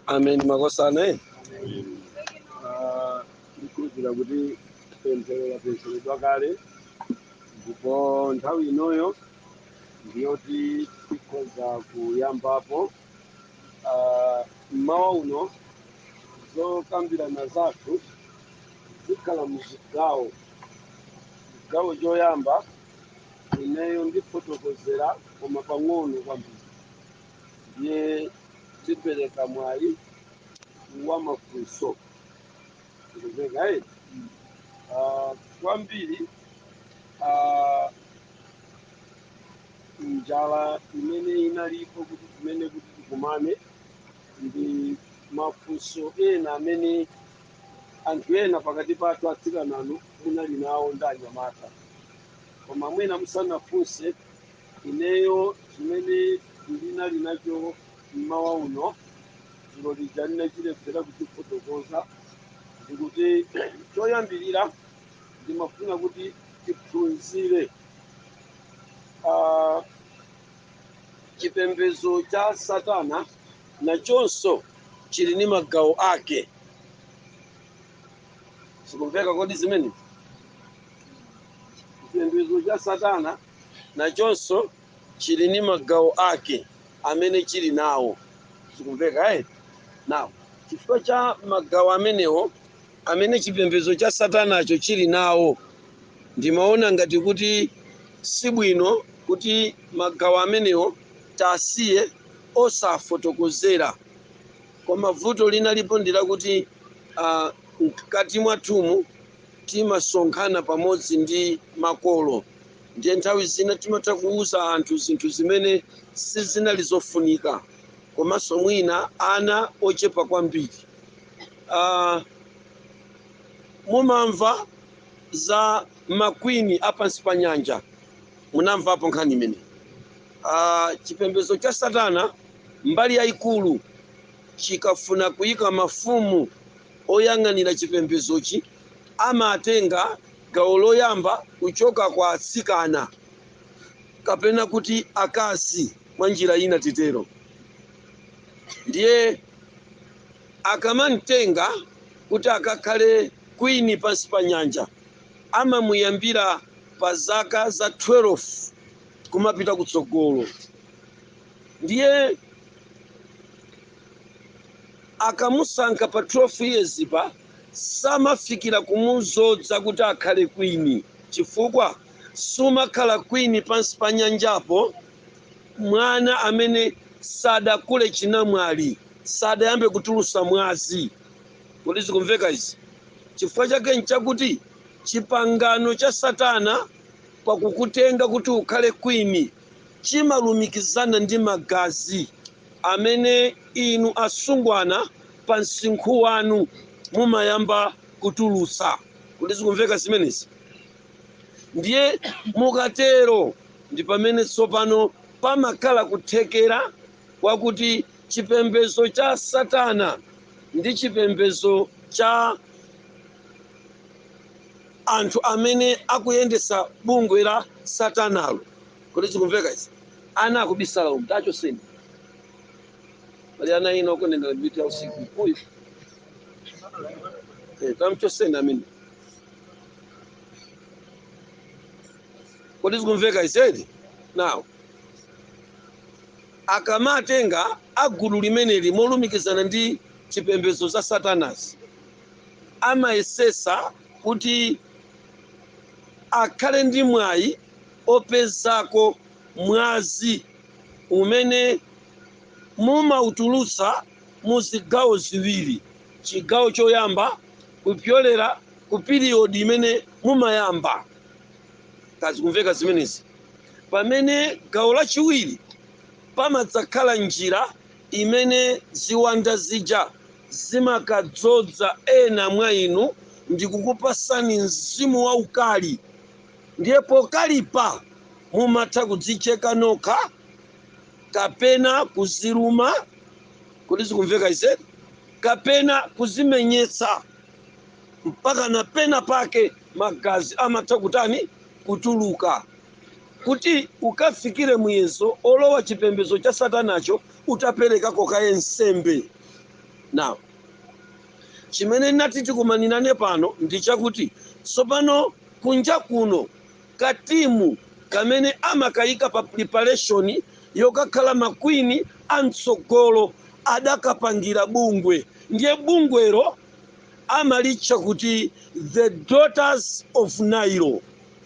ameni makosana ndikukhulupirira kuti pemphero lapempheredwa kale ndipo nthawi inoyo ndiyoti tikhoza kuyambapo Ah, mmawa uno zokambirana zathu zikhala muzigawo chigawo choyamba ineyo ndifotokozera koma pang'ono kwambiri ndiye tipereka mwayi wa mafunso eee kwambiri ah, njala imene inalipo kuti kumene kuti tikumane ndi mafunso ena amene Anthu ena pakati pathu atsikananu munali nawo ndi anyamata koma mwina musanafunse ineyo chimene ndinali nacho mmawa uno dzulo lija ndinachilephera kuchifotokoza ndikuti choyambirira ndimafuna kuti tiphunzire ah, chipembedzo cha satana nachonso chili ndi magawo ake. Zikumveka kodi zimene? Chipembedzo cha Satana nachonso chili ndi magawo ake amene chili nawo. Zikumveka eh? Ndiye chifukwa cha magawo amenewo amene chipembedzo cha Satanacho chili nawo, ndimaona ngati kuti si bwino kuti magawo amenewo tiwasiye osafotokozera. Koma vuto linalipo ndi lakuti a, mkati mwathumu timasonkhana pamodzi ndi makolo, ndiye nthawi zina timatha kuuza anthu zinthu zimene sizinali zofunika, komanso mwina ana ochepa kwambiri. A, mumamva za makwini a pansi pa nyanja, munamvapo nkhani imeneyi? Aaa chipembedzo cha satana mbali yaikulu chikafuna kuika mafumu oyang'anira chipembedzochi amatenga gawo loyamba kuchoka kwa atsikana kapena kuti akazi mwa njira ina titero ndiye akamamtenga kuti akakhale queen pansi pa nyanja amamuyambira pa zaka za 12 kumapita kutsogolo ndiye akamusankha pa 12 years pa samafikira kumuzodza kuti akhale kwini chifukwa sumakhala kwini pansi pa nyanjapo mwana amene sadakule chinamwali sadayambe kutulusa mwazi kodi zikumveka izi chifukwa chake nchakuti chipangano cha satana pa kukutenga kuti ukhale queen, chimalumikizana ndi magazi amene inu asungwana pa msinkhu wanu mumayamba kutulutsa. Kodi zikumveka zimenezi? Ndiye mukatero ndi pamene tsopano pamakhala kuthekera kwakuti chipembezo cha satana ndi chipembezo cha. anthu amene akuyendesa bungwe la satanalo kodi zikumveka izi ana akubisala umu tachotseni pali ana ina okonenera mitu ya usiku uyu eh, tamchotseni ameni kodi zikumveka izi Now akamatenga a gulu limeneli molumikizana ndi chipembedzo za satanazi amayesesa kuti akhale ndi mwayi opezako mwazi umene mumautulutsa mu zigawo ziwiri, chigawo choyamba kupyolera ku period imene mumayamba, kaya zikumveka zimenezi, pamene gawo lachiwiri pamadzakhala njira imene ziwanda zija zimakadzodza ena mwa inu ndikukupasani mzimu waukali ndiye pokalipa mumatha kudzicheka nokha kapena kuziluma kodi zikumveka izi kapena kuzimenyetsa mpakana pena pake magazi amatha kutani kutuluka Kuti ukafikire muyezo olowa chipembedzo cha satanacho utaperekako kaye nsembe. Now, chimene nati tikumanirane pano ndi chakuti tsopano kunja kuno ka team kamene amakaika pa preparation yokakhala ma queen a mtsogolo adakapangira bungwe ndiye bungwero amalitcha kuti the daughters of Nile.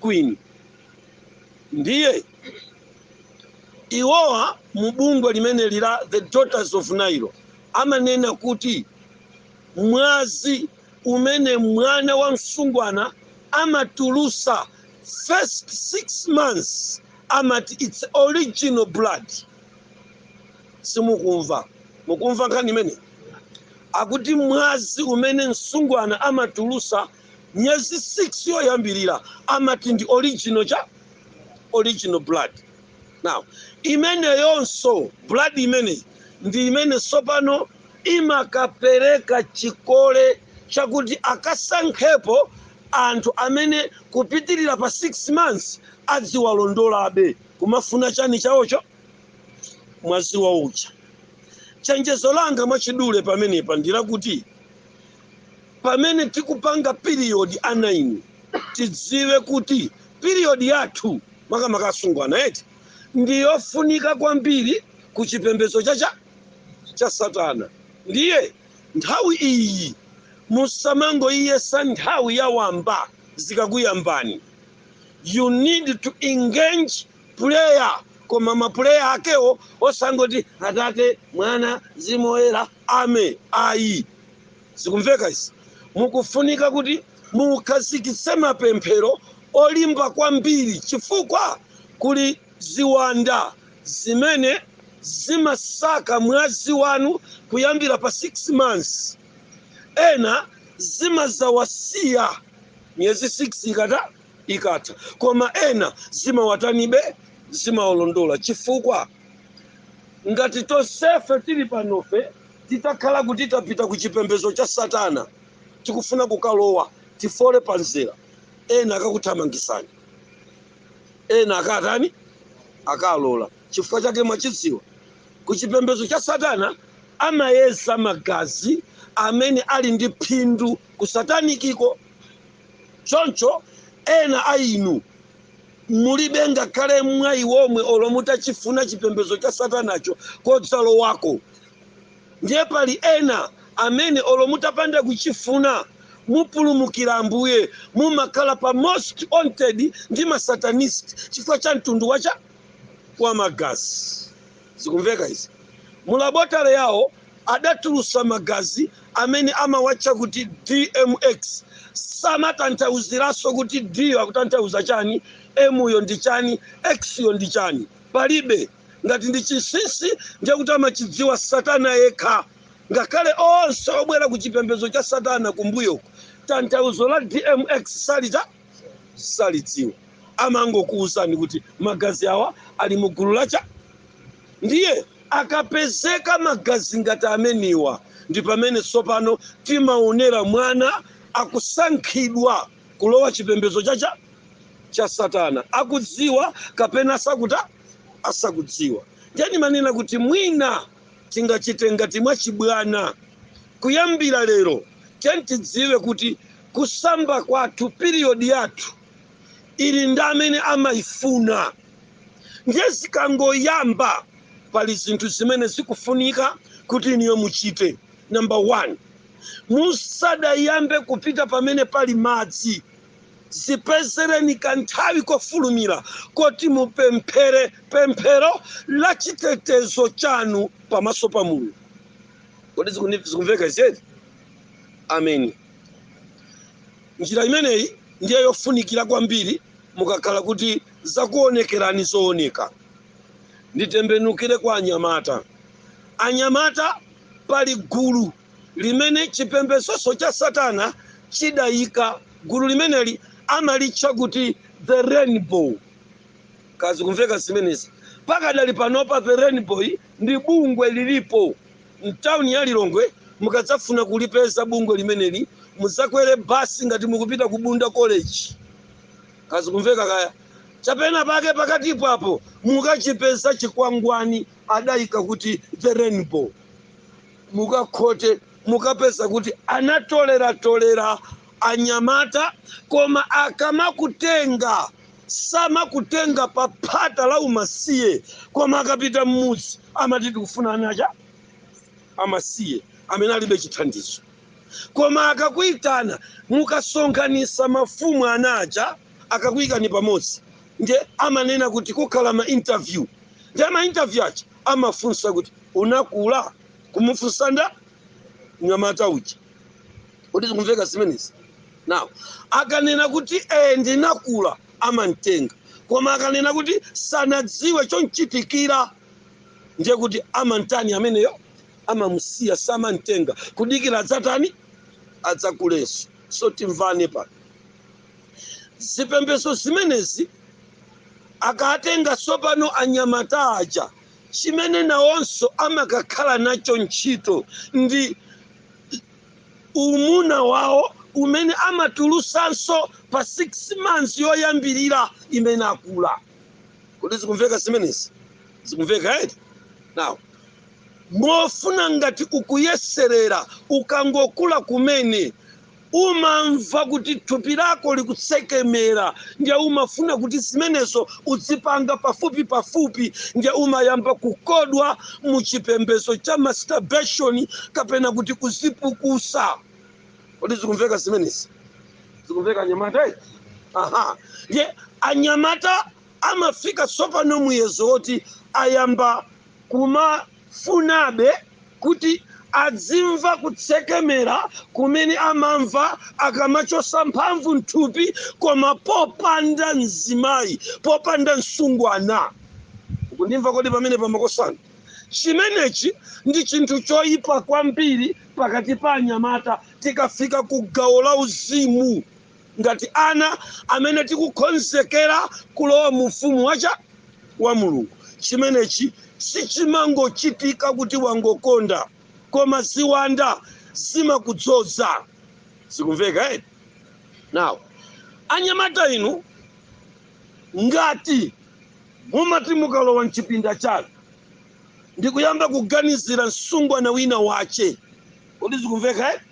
Queen. Ndiye iwowa mu bungwe limeneli la the Daughters of Nile amanena kuti mwazi umene mwana wa msungwana amatulusa first six months amati it's original blood. Simukumva, mukumva nkhani imene akuti mwazi umene msungwana amatulusa miyezi 6 yoyambirira amati ndi original cha original blood now imeneyonso blood imeneyi ndi imene tsopano imakapereka chikole chakuti akasankhepo anthu amene kupitirira pa 6 months adziwalondolabe kumafuna chani chawocho mwazi wawo uja chenjezo langa mwachidule pamenepa ndilakuti pamene tikupanga period ana inu tidziwe kuti period yathu makamaka asungwana eti ndiyofunika kwambiri ku chipembedzo cha satana ndiye nthawi iyi musamangoiyesa nthawi yawamba zikakuyambani you need to engage prayer koma ma prayer akewo osangoti atate mwana mzimu woyera ame ayi zikumveka izi mukufunika kuti mukhazikitse mapemphero olimba kwambiri chifukwa kuli ziwanda zimene zimasaka mwazi wanu kuyambira pa 6 months ena zimadzawasiya miyezi 6 ikata ikatha koma ena zimawatanibe zimawalondola chifukwa ngati tonsefe tili panofe titakhala kuti tapita ku chipembedzo cha satana tikufuna kukalowa tifole pa mzera ena akakuthamangisani ena akatani akalola chifukwa chake mwachidziwa ku chipembedzo cha satana amayeza magazi amene ali ndi phindu ku satanikiko Choncho ena a inu mulibe ngakhale mwayi womwe olo mutachifuna chipembedzo cha Satanacho kodzalowa wako. Ndiye pali ena amene olo mutapanda kuchifuna mupulumukira Ambuye, mumakhala pa most wanted ndi ma Satanist chifukwa cha mtundu wacha? Wa magazi. zikumveka izi mu laboratory yawo adatulusa magazi amene amawatcha kuti dmx samatanthauziranso kuti d yo akutanthauza chani m yo ndi chani x yo ndi chani palibe ngati ndi chinsinsi ndiye kuti amachidziwa satana yekha ngakhale onse obwera ku chipembedzo cha satana kumbuyoko tanthauzo la dmx salita salidziwa amangokuwuzani kuti magazi awa ali mu gulu lacha ndiye akapezeka magazi ngati amenewa ndi pamene tsopano timaonera mwana akusankhidwa kulowa chipembedzo chacha cha satana akudziwa kapena asakuta asakudziwa ndiye ndimanena kuti mwina tingachite ngati mwachibwana kuyambira lero tiyeni tidziwe kuti kusamba kwathu period yathu ili ndi amene amaifuna ndiye zikangoyamba pali zinthu zimene zikufunika kuti inuyo muchite number one musadayambe kupita pamene pali madzi zipezereni kanthawi kofulumira koti mupemphere pemphero la chitetezo chanu pamaso pa mulungu kodi zikumveka izi ameni njira imeneyi ndiye yofunikira kwambiri mukakhala kuti zakuonekerani zooneka nditembenukire kwa anyamata anyamata pali gulu limene chipembezonso cha satana chidayika gulu limeneli amalitcha kuti the rainbow kodi zikumveka zimenezi pakadali panopa the rainbow ndi bungwe lilipo mtauni ya Lilongwe. Mukadzafuna kulipeza bungwe limeneli mudzakwere basi ngati mukupita ku Bunda College, kodi zikumveka kaya chapena pake pakati papo mukachipeza chikwangwani adayika kuti the rainbow, mukakhote mukapeza kuti anatoleratolera anyamata, koma akamakutenga samakutenga pa phata la umasiye, koma akapita m'mudzi amati tikufuna ana aja amasiye amene alibe chithandizo koma akakuitana mukasonkhanisa mafumu ana aja akakuyikani pamodzi nde amanena kuti kukhala ma interview nde ma interview aja amafunsa kuti unakula kumufunsa mnyamata uja kodi zikumveka zimenezi now akanena kuti eh ndinakula amamtenga. Koma akanena kuti sanadziwe chomchitikira, ndiye kuti amamtani ameneyo? Amamusiya, samamtenga, kudikira adzatani? Adzakulenso. So timvane pano, zipembedzo zimenezi akatenga tsopano anyamata aja, chimene nawonso amakakhala nacho ntchito ndi umuna wawo umene amatulusanso pa 6 months yoyambilira imene akula kodi zikumveka zimenezi zikumveka eti now mofuna ngati ukuyeserera ukangokula kumene umamva kuti thupi lako likutsekemera ndiye umafuna kuti zimenezo udzipanga pafupi pafupi ndiye umayamba kukodwa mu chipembedzo cha masturbation kapena kuti kuzipukusa kodi zikumveka zimenezi zikumveka anyamata eh? aha ndiye anyamata amafika tsopano muyezo woti ayamba kumafunabe kuti adzimva kutsekemera kumene amamva akamachosa mphamvu mthupi koma popanda mzimayi popanda msungwana Mukundimva kodi pamenepa makosana? Chimenechi ndi chinthu choipa kwambiri pakati pa anyamata tikafika ku gawo la uzimu ngati ana amene tikukonzekera kulowa mu ufumu wacha wa Mulungu. Chimenechi sichimangochitika kuti wangokonda, koma ziwanda zimakudzoza. Zikumveka eti? Now anyamata inu Ngati mumati mukalowa m'chipinda chanu ndikuyamba kuganizira msungwana wina wache, kodi zikumveka eti?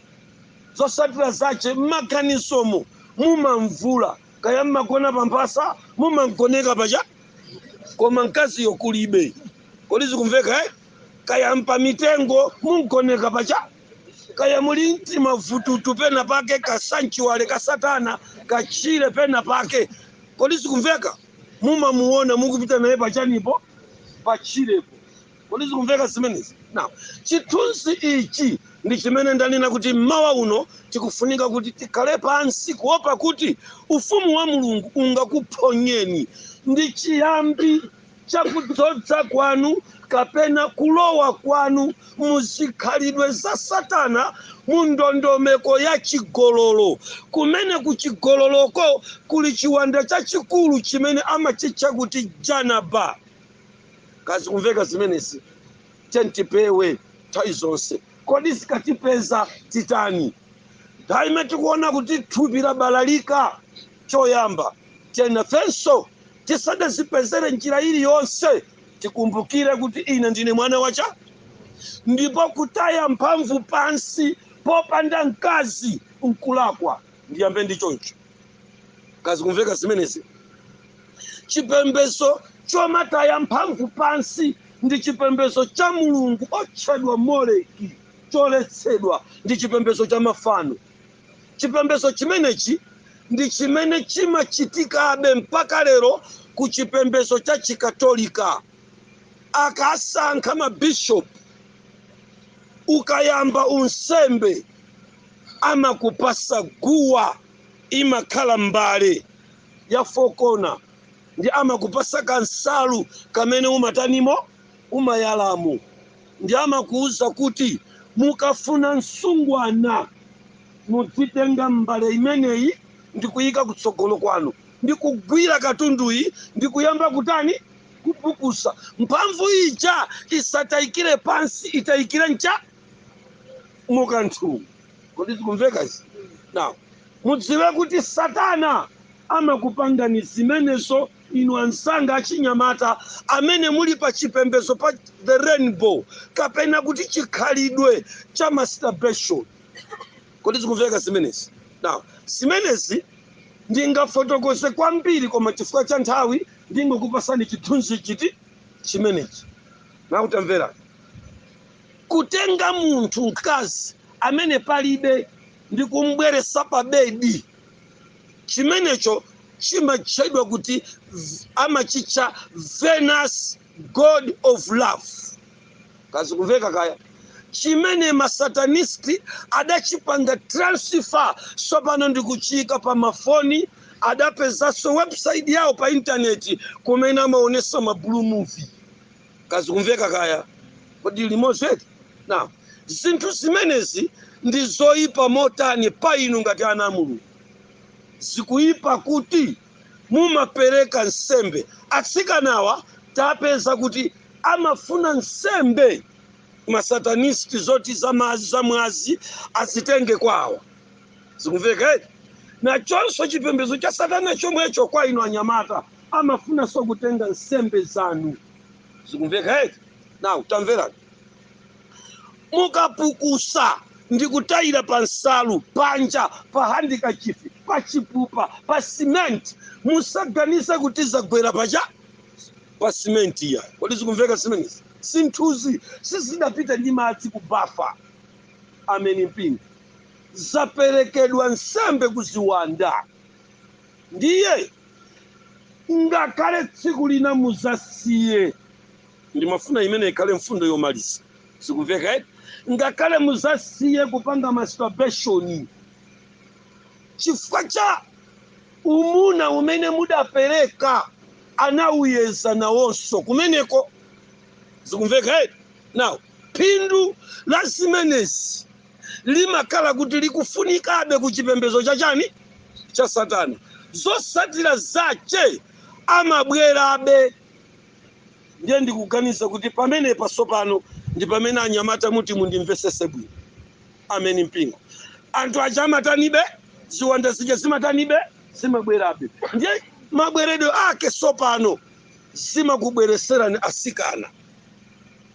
Zotsatira zache, m'maganizomo mumamvula, kaya m'magona pa mphasa, mumamgoneka paja, koma mkaziyo kulibe, kodi zikumveka eti? Kaya mpa mitengo, mumamgoneka paja. kaya muli mtima vututu pena pake ka sanctuary ka satana katchire pena pake kodi zikumveka mumamuona mukupita naye pachanipo patchirepo kodi zikumveka zimenezi now chithunzi ichi ndi chimene ndanena kuti mmawa uno tikufunika kuti tikhale pansi kuopa kuti ufumu wa mulungu ungakuphonyeni ndi chiyambi chakudzoza kwanu kapena kulowa kwanu mu zikhalidwe za Satana mu ndondomeko ya chigololo, kumene ku chigololoko kuli chiwanda chachikulu chimene amachitcha kuti Janaba. Kodi zikumveka zimenezi, tiyeni tipewe nthawi zonse. Kodi zikatipeza titani? Nthawi imene tikuona kuti thupi labalalika. Choyamba, tiyeni nafenso tisadazipezere m'njira iliyonse, tikumbukire kuti ine ndine mwana wa cha ndipo kutaya mphamvu pansi popanda mkazi nkulakwa. Ndiyambe ndi choncho. Kodi zikumveka zimenezi? Chipembedzo chomataya mphamvu pansi ndi chipembedzo cha mulungu otchedwa Moleki, choletsedwa. Ndi chipembedzo cha mafano. chipembedzo chimenechi ndi chimene chimachitikabe mpaka lero ku chipembedzo cha chikatolika akasankha mabishopu ukayamba unsembe amakupasa guwa imakhala mbale ya fokona ndi amakupasa kansalu kamene umatanimo umayalamo ndi amakuuza kuti mukafuna msungwana mudzitenga mbale imeneyi ndikuyika kutsogolo kwanu ndi kugwira katunduyi ndi kuyamba kutani kupukusa mphamvu ija isatayikire pansi itayikire ncha mukanthu kodi zikumvekazi now mudziwe kuti satana amakupangani zimenezo inu ansanga achinyamata amene muli pa chipembedzo pa the rainbow kapena kuti chikhalidwe cha masturbation kodi zikumveka zimenezi now zimenezi ndingafotokoze kwambiri koma chifukwa cha nthawi ndingokupasani chithunzi chiti chimenechi now tamverani kutenga munthu mkazi amene palibe ndi kumbweresa pa bedi chimenecho chimatchedwa kuti amachitcha venus god of love kazikumveka kaya chimene masatanisti adachipanga transfer sopano ndikuchiyika pa mafoni adapezanso website yawo pa intaneti kumene amaonesa ma blue movie kazikumveka kaya tili limodzi eti now zinthu zimenezi ndi zoyipa motani pa inu ngati ana a mulungu zikuyipa kuti mumapereka nsembe atsikanawa tapeza kuti amafuna nsembe masatanisti zoti zamazi zamwazi azitenge kwawo zikumveka eti now chonso chipembedzo cha satana chomwecho kwa inu anyamata amafunanso kutenga nsembe zanu zikumveka eti now tamverani mukapukusa ndi kutayira pa nsalu panja pa handikachifi pa chipupa pa simenti musaganize kuti zagwera pacha pa simenti iyayi kodi zikumveka zimenezi zinthuzi sizidapita ndi madzi ku bafa ameni mpingo zaperekedwa nsembe kuziwanda Ndiye ngakhale tsiku lina muzasiye, ndimafuna imeneyi ikhale mfundo yomaliza, zikumveka eti? Ngakhale muzasiye kupanga masturbation chifukwa cha umuna umene mudapereka, anauyeza nawonso kumeneko, zikumveka eti? Now phindu la zimenezi limakhala kuti likufunikabe ku chipembedzo cha chani cha satana zotsatira zake amabwerabe ndiye ndikuganiza kuti pamenepa tsopano ndi pamene anyamata muti mundimvesese bwino ameni mpingo anthu aja amatanibe ziwanda zija zimatanibe zimabwerabe ndiye mabweredwe ake tsopano zimakubwereserani asikana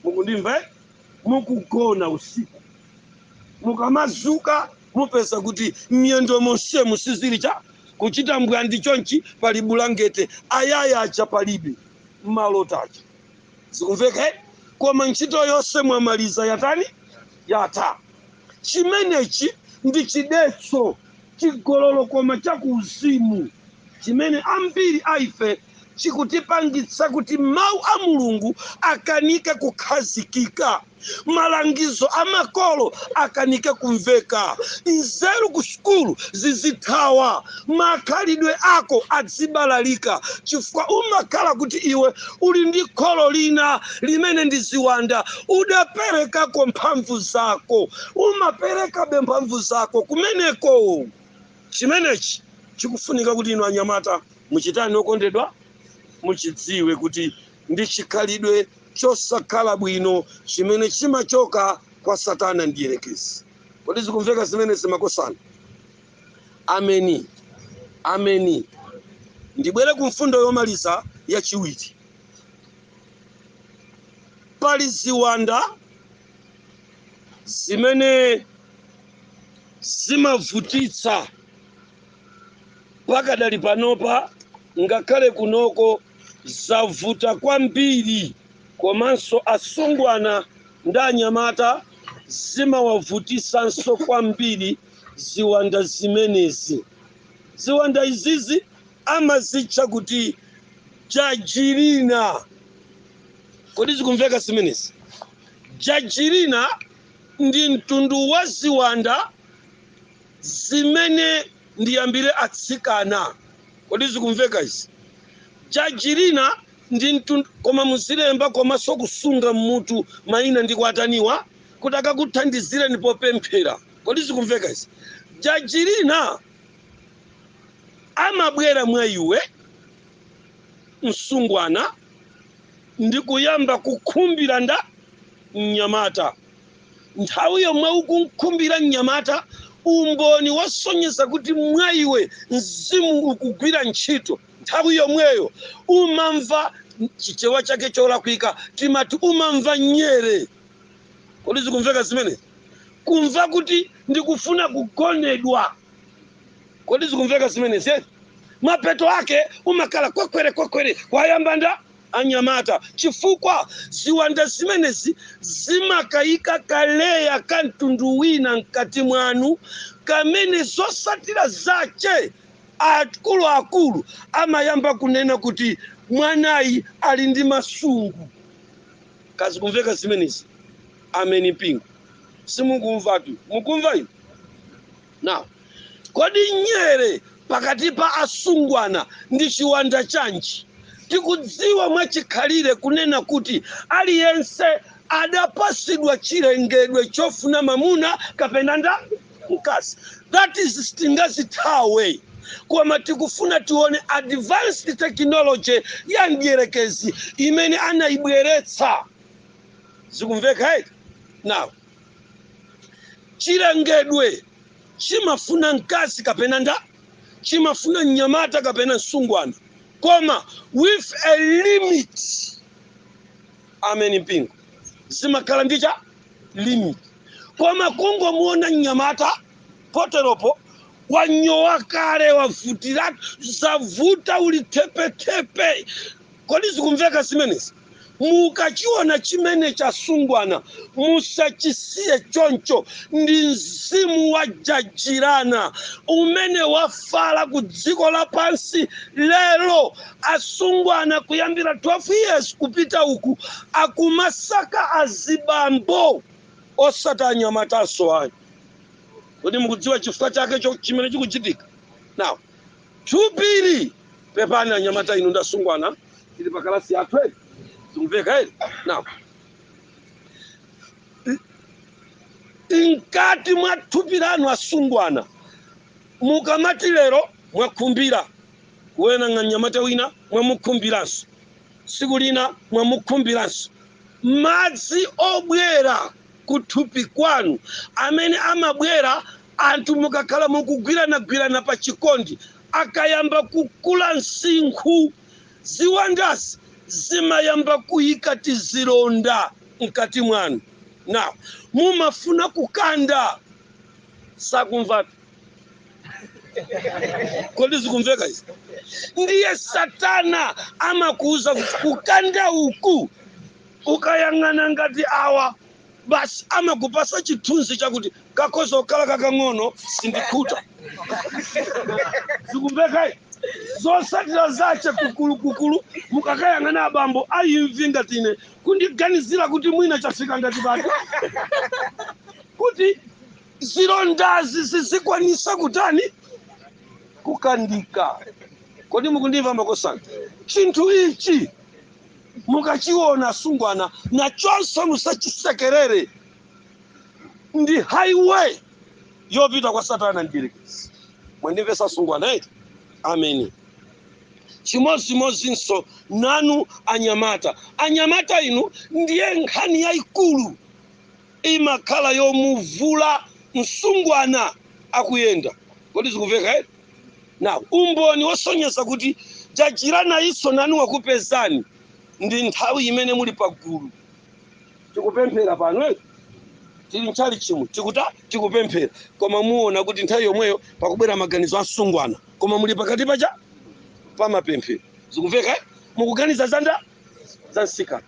mukundimva eh? mukugona usiku mukamadzuka mupeza kuti miyendo monsemu sizili cha kuchita mbwandi chonchi pali bulangete ayaya aja palibe malota aja zikumveka eh? koma ntchito yonse mwamaliza yatani yatha chimenechi ndi chidetso chigololo koma cha kuuzimu chimene ambiri a ife chikutipangitsa kuti mawu a mulungu akanike kukhazikika malangizo a makolo akanike kumveka nzeru ku sukulu zizithawa makhalidwe ako azibalalika chifukwa umakhala kuti iwe uli ndi kholo lina limene ndi ziwanda udaperekako mphamvu zako umaperekabe mphamvu zako kumeneko chimenechi chikufunika kuti inu anyamata muchitani okondedwa muchidziwe kuti ndi chikhalidwe chosakhala bwino chimene chimachoka kwa satana mdyerekezi kodi zikumveka zimene zimakosana ameni ameni ndibwere ku mfundo yomaliza yachiwiri pali ziwanda zimene zimavutitsa pakadali panopa ngakhale kunoko zavuta kwambiri komanso asungwana ndi anyamata zimawavutisanso kwambiri ziwanda zimenezi ziwanda izizi amazitcha kuti jajirina kodi zikumveka zimenezi jajirina ndi mtundu wa ziwanda zimene ndiyambire atsikana kodi zikumveka izi jajirina ndi mtundu koma muzilemba komanso kusunga mmutu mayina ndi kuataniwa kuti akakuthandizireni popemphera kodi zikumveka izi jajirina amabwera mwa iwe msungwana ndi kuyamba kukhumbira nda mnyamata. Nthawi yomwe ukumkhumbira mnyamata, umboni wosonyeza kuti mwa iwe mzimu ukugwira ntchito, nthawi yomweyo umamva chichewa chake cholakwika, timati umamva nyere. Kodi zikumveka zimene? Kumva kuti ndikufuna kugonedwa. kodi zikumveka zimenezi eti mapeto ake umakhala kwekwere kwekwere kwayamba nda anyamata chifukwa ziwanda zimenezi zimakayika kaleya ka mtundu wina mkati mwanu kamene zosatira zache akuluakulu amayamba kunena kuti mwanayi ali ndi masungu kodi zikumveka zimenezi ameni mpingo simukumvatu mukumva inu Now, kodi nyere pakati pa asungwana ndi chiwanda chanji? Tikudziwa mwachikhalire kunena kuti aliyense adapasidwa chilengedwe chofuna mamuna kapena nda mkazi. That is sitingazithawe koma tikufuna tione advanced technology ya mdierekezi imene anaibweretsa. Zikumveka eti? Now, chilengedwe chimafuna mkazi kapena nda chimafuna mnyamata kapena msungwana koma with a limit ameni mpingo zimakhala ndi cha limit koma kungomuona mnyamata poteropo wanyowa kale wavutiratu zavuta uli tepetepe kodi zikumveka zimenezi Mukachiona chimene cha asungwana, musachisiye choncho. Ndi mzimu wa jajirana umene wafala ku dziko lapansi lero. Asungwana kuyambira 12 years kupita uku akumasaka azibambo osati anyamatanso ayi. Kodi mukudziwa chifukwa chake chimene chikuchitika? Now, Thupili! Pepani anyamata inu ndasungwana tili pa kalasi yathu eti zikumveka eti now mkati mwa thupi lanu asungwana mukamati lero mwakhumbira kuwenanga mnyamata wina mwamukhumbiranso tsiku lina mwamukhumbiranso madzi obwera kuthupi kwanu amene amabwera Anthu mukakhala mukugwiranagwirana pa chikondi, akayamba kukula msinkhu, ziwandazi zimayamba kuyika tizilonda mkati mwanu. Now mumafuna kukanda, sakumvatu. Kodi zikumveka izi? Ndiye satana amakuuza kuti kukanda uku ukayang'ana ngati awa. Basi amakupasa chithunzi chakuti kakhoza kukhala kakang'ono sindikhuta. Zikumveka eh? Zosatira zache kukulu kukulu mukakayang'ana abambo a imvi ngati ine kundiganizira kuti mwina chafika ngati pati kuti zilondazi zizikwanisa kutani kukandika. Kodi mukundimva makosana? Chinthu ichi mukachiona asungwana nachonso musachisekerere ndi highway yopita kwa satana mdierekezi mwandimvesa asungwana eti ameni chimodzimodzinso nanu anyamata anyamata inu ndiye nkhani yayikulu imakhala yomuvula msungwana akuyenda kodi zikumveka eti now umboni wosonyeza kuti jajira nayinso nanu wakupezani ndi nthawi imene muli pagulu tikupemphera pano eh? tili mtchalitchimu tikuta tikupemphera koma muona kuti nthawi yomweyo pakubwera maganizo asungwana koma muli pakati paja pamapemphero zikumveka eh? mukuganiza zanda za msikana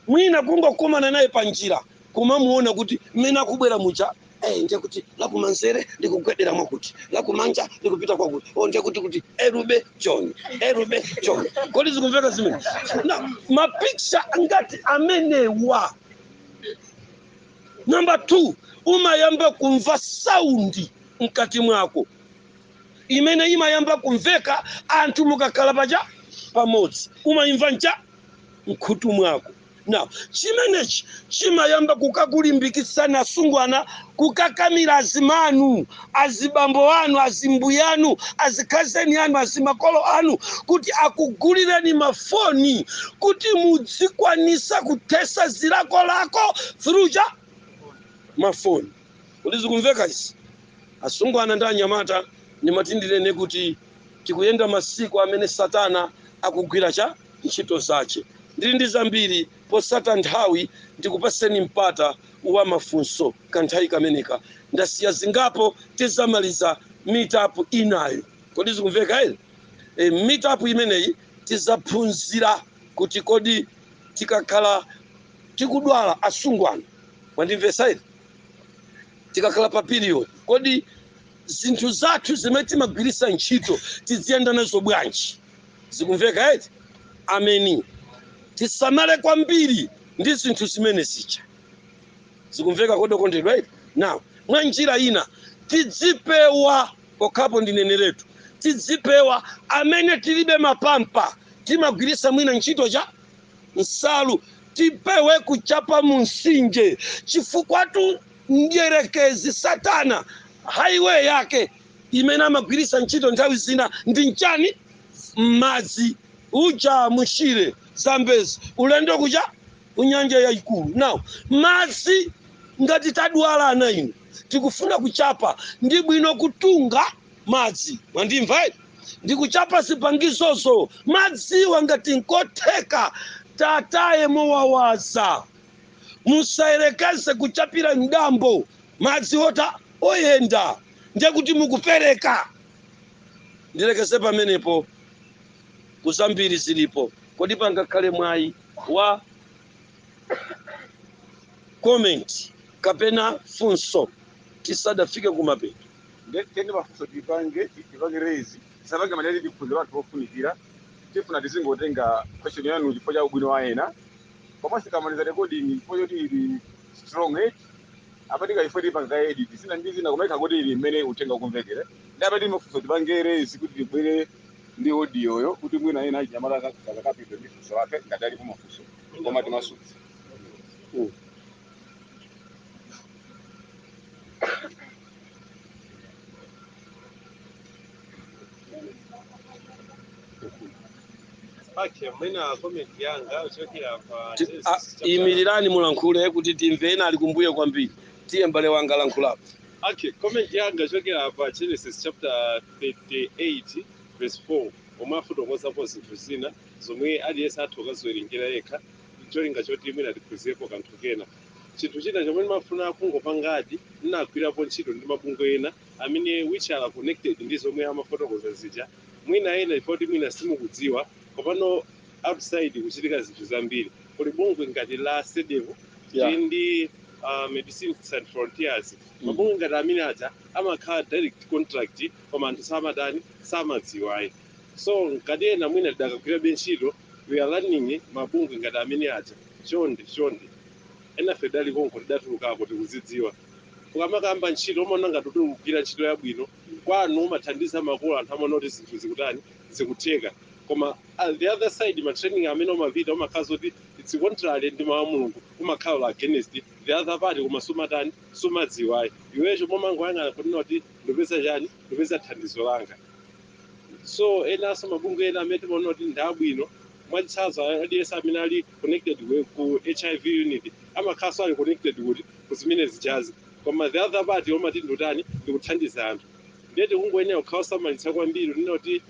mwina kungokumana naye pa njira kumamuona kuti mmene akubwera muja eh, ndiye kuti lakumanzere likugwedera mwakuti lakumanja likupita kwakuti o ndiye kuti kuti erube john erube john kodi zikumveka zimene now mapicha ngati amenewa namba 2 umayamba kumva saundi mkati mwako imene imayamba kumveka anthu mukakhala paja pamodzi umayimva ncha mkhutu mwako now chimenechi chimayamba kukakulimbikitsani asungwana kukakamiza azimanu azibambo anu azimbuyanu azikhazeni anu azimakolo anu kuti akugulireni mafoni kuti mudzikwanisa kuthesa zilakolako through cha mafoni kodi zikumveka izi asungwana ndi anyamata nditanthauzani kuti Tikuyenda masiku amene satana akugwira cha ntchito zache. Ndiri ndi zambiri potsata nthawi ndikupaseni mpata wa mafunso kanthawi kameneka ndasiya zingapo tizamaliza meet up inayo kodi zikumveka eti ee meet up imeneyi tizaphunzira kuti kodi tikakhala tikudwala asungwana mwandimvesa eti tikakhala pa period kodi zinthu zathu zimene timagwiritsa ntchito tiziyenda nazo bwanji zikumveka eti ameni tisamale kwambiri ndi zinthu zimene zija zikumveka kodi okondedwa eti now mwa njira ina tidzipewa pokhapo ndineneretu tidzipewa amene tilibe mapampa timagwiritsa mwina ntchito cha nsalu tipewe kuchapa mumtsinje chifukwatu Mdyerekezi, Satana, highway yake imene amagwiritsa ntchito nthawi zina ndi nchani? Mmadzi, uja mu Shire, Zambezi, ulendo kuja ku Nyanja Yayikulu. Now, madzi, ngati tadwala ana inu, tikufuna kuchapa, ndi bwino kutunga madzi, mwandimva eti, ndi kuchapa zipangizozo, madziwo ngati nkotheka tataye mowawaza. Musayerekeze kuchapira m'dambo madzi ota oyenda ndiye kuti mukupereka. Ndilekeze pamenepo koma zambiri zilipo. Kodi pangakhale mwayi wa comment kapena funso tisadafike kumapeto? Nde tiyeni mafunso tipange tipange raise tisapange madalili tiphunzire panthu pofunikira tifuna tizingotenga question yanu chifukwa cha ubwino wa ena. koma tikamaliza recording chifukwa choti ili strong eh apatika chifukwa tipangaka edit zina ndi zina kumaika kuti ili mmene uthenga ukumvekere ndiye apa tili mafunso tipange raise kuti tibwere ndi audio yo kuti mwina ena achinyamata kakapita ndi funso lake ngati alipo mafunso koma timasuke Okay mwina komenti yanga ikuchokera pa imirirani mulankhule kuti timve ena ali kumbuyo kwambiri tiye m'bale wanga lankhulapo Okay, comment yanga ikuchokera pa Genesis chapter 38 verse 4 omwe afotokozapo zinthu zina zomwe aliyense atha kukaziwerengera yekha cholinga choti mwina tiphunzirepo kanthu kena chinthu china chomwe ndimafuna kungopangadi ndinagwirapo ntchito ndi mabungwe ena amene which are connected ndi zomwe amafotokoza zija mwina ena chifukwa choti mwina simukudziwa komano outside kuchitika zinthu zambiri kuli bungwe ngati la sedevu ndi medicine sans frontiers mabungwe ngati amene aja amakhala direct contact koma anthu samatani samadziwa ayi so ngati ena mwina tidakagwirabe ntchito we are learning mabungwe ngati amene aja chonde chonde enafe tidali konko tidatulukako tikuzidziwa ukamakamba ntchito umaona ngati kuti ukugwira ntchito yabwino kwanu umathandiza makolo anthu amaona kuti zinthu zikutani zikutheka koma the other side ma training amene umapita umakhala zoti it's contrary ndi mawu a mulungu umakhala against the other part koma sumatani sumadziwayi iwe chomwe umangoyang'ana kunena kuti ndipeza chani ndipeza thandizo langa so enanso mabungwe ena amene timaona kuti ndi abwino mwachitsanzo aliyense amene ali connected ku- ku hiv unit amakhalanso ali connected kuti kuzimene zijazi Koma the other part umati ndikutani ndikuthandiza anthu ndiye tikungoyenera kukhala osamalitsa kwambiri kunena kuti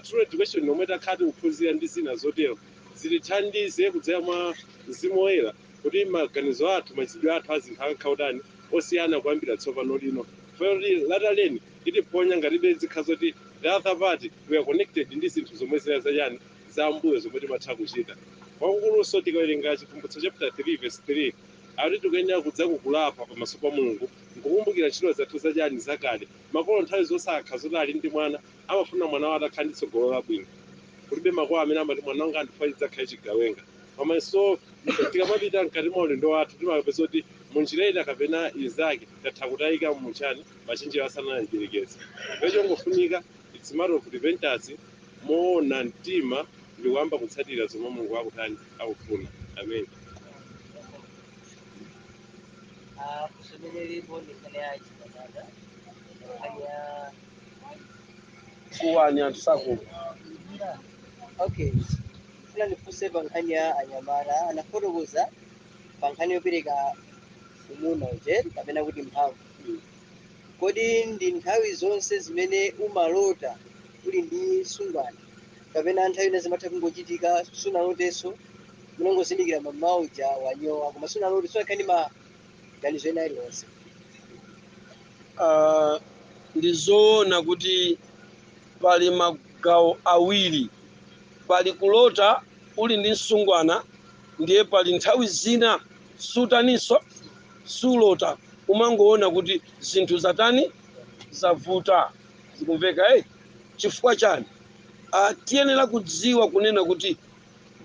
true education yomwe takhala tikuphunzira ndi zina zotero zitithandize kudzera mwa mzimu woyera kuti maganizo athu machitidwe athu azinthu akakhale otani osiyana kuyambira tsopano lino chifukwa choti lataleni itiponya ngatibe zikhala zoti the other part we are connected ndi zinthu zomwe zina zachani za mbuyo zomwe timatha kuchita kwakukulunso tikawerenga Chivumbulutso chapter 3 verse 3 Akuti tikuyenera kudzuka kulapa pamaso pa Mulungu nkukumbukira ntchito zathu za chani? Zakale. Makolo nthawi zonse akakhala zoti ali ndi mwana, amafuna mwana wawo atakhala ndi tsogolo labwino. Kulibe makolo amene amati mwana wanga ndikufuna adzakhale chigawenga. Komanso tikamapita mkati mwa ulendo wathu timapeza kuti mu njira ina kapena inzake tatha kutayika mu chani machenjerero a satana mdyerekezi. Ndiye chongofunika it's matter of repentance, moona mtima ndikuyamba kutsatira zomwe Mulungu akutani. akufuna Amen. Kuwani anthu sakumva okay ndikufuna ndifunse pa nkhani ya anyamata anafotokoza pa nkhani yopereka umuna uje kapena kuti mphamvu Kodi ndi nthawi zonse zimene umalota uli ndi msungwana kapena nthawi ina zimatha kungochitika sunalotenso unangozindikira mamawa uja wanyowa koma sunalote sunakhala ndi maganizo ena alionse? Ah, ndi zoona kuti pali magawo awiri pali kulota uli ndi msungwana ndiye pali nthawi zina sutaninso sulota umangoona kuti zinthu zatani zavuta zikumveka eh? chifukwa chani ah, tiyenera kudziwa kunena kuti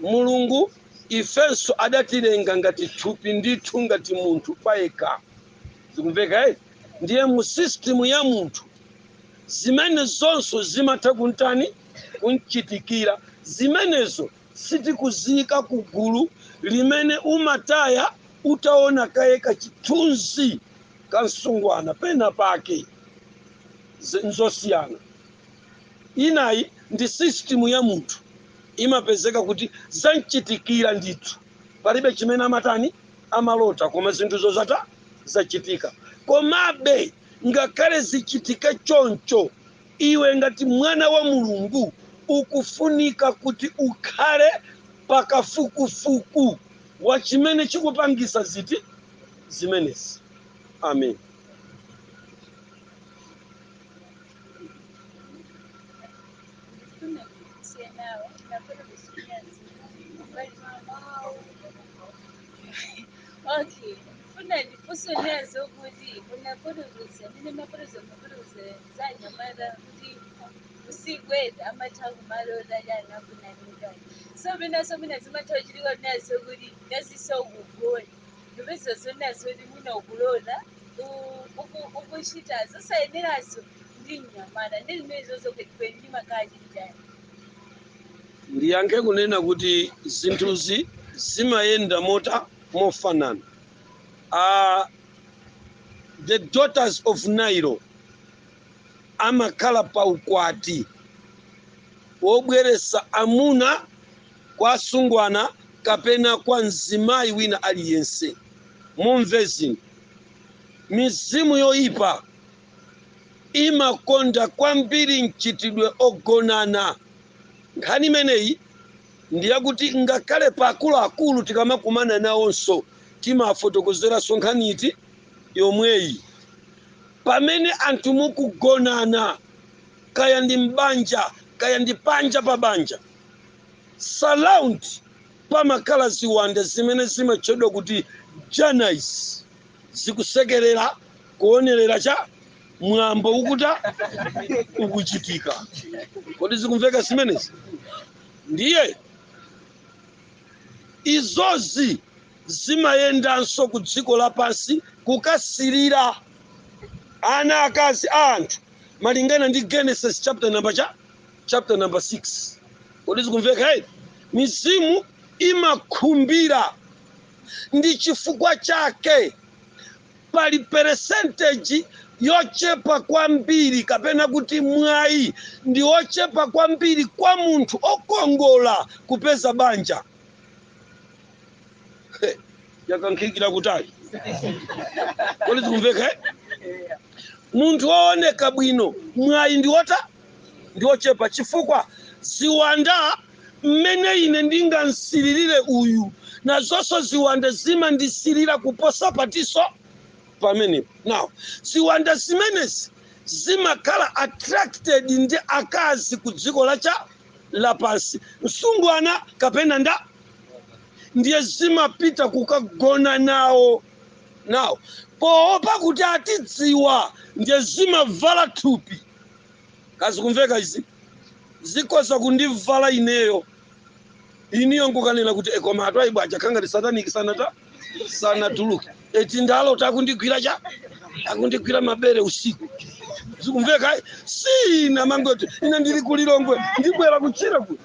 mulungu ifenso adatilenga ngati thupi ndithu ngati munthu payekha zikumveka eh? ndiye mu system ya munthu zimenezonso zimatha kuntani kumchitikira zimenezo Sitikuziyika ku gulu limene umataya utaona kaye kachithunzi ka msungwana pena pake. Zi, nzosiyana. Inayi ndi system ya munthu imapezeka kuti zamchitikira ndithu. Palibe chimene amatani, amalota koma zinthuzo zata, zachitika. Komabe ngakhale zichitike choncho. Iwe ngati mwana wa Mulungu ukufunika kuti ukhale pa kafukufuku wa chimene chikupangisa ziti zimenezi. Ameni. Okay, funa ndifunse nazo kuti munafotokoza, mmene mumafotokoza za anyamata kuti usiku eti amatha kumalota chani akunanikayi so penanso mwina zimatha kuchitika nazo kuti ngati ukugona ndipeza zonazo kuti mwina ukulota u- uku- ukuchita zosayenerazo ndi mnyamata ndi zimene zozokwetikweni ndi makhala chititani ndiyankhe kunena kuti zinthuzi zimayenda mota mofanana a The Daughters of Nile amakhala pa ukwati wobweretsa amuna kwa asungwana kapena kwa mzimayi wina aliyense. Mumve zinthu. Mizimu yoyipa imakonda kwambiri mchitidwe wogonana. Nkhani imeneyi ndi yakuti ngakhale pa akuluakulu tikamakumana nawonso timawafotokozeranso nkhani yomweyi pamene anthu mukugonana kaya ndi m'banja kaya ndi panja pa banja surround pamakhala ziwanda zimene zimatchedwa kuti janais zikusekerera kuonerera cha mwambo ukutani ukuchitika kodi zikumveka zimenezi ndiye izozi zimayendanso ku dziko lapansi kukasirira ana akazi a anthu malingana ndi genesis chapter number cha chapter number 6 kodi zikumveka eti mizimu imakhumbira ndi chifukwa chake Pali percentage yochepa kwambiri kapena kuti mwayi ndi wochepa kwambiri kwa munthu okongola kupeza banja. Yakankhikira kutali. Kodi zikumveka? eh? Munthu wooneka bwino mwayi ndi wotani ndi ochepa, chifukwa ziwanda, mmene ine ndingamsilirire uyu, nazonso ziwanda zimandisilira kuposa patatu pamenepo. Now, ziwanda zimenezi zimakhala attracted ndi akazi ku dziko lacha lapansi, msungwana kapena ndani, ndiye zimapita kukagona nawo. Now, poopa kuti atidziwa, ndiye zimavala thupi. kodi zikumveka izi zikhoza kundivala ineyo inuyo nkukanena kuti koma a Twaibu aja akhala ndi a sataniki sanata sanatuluke eti ndalota akundigwira cha akundigwira mabere usiku zikumveka eh? si ine amangoti ine ndili ku Lilongwe ndibwera kuchira ku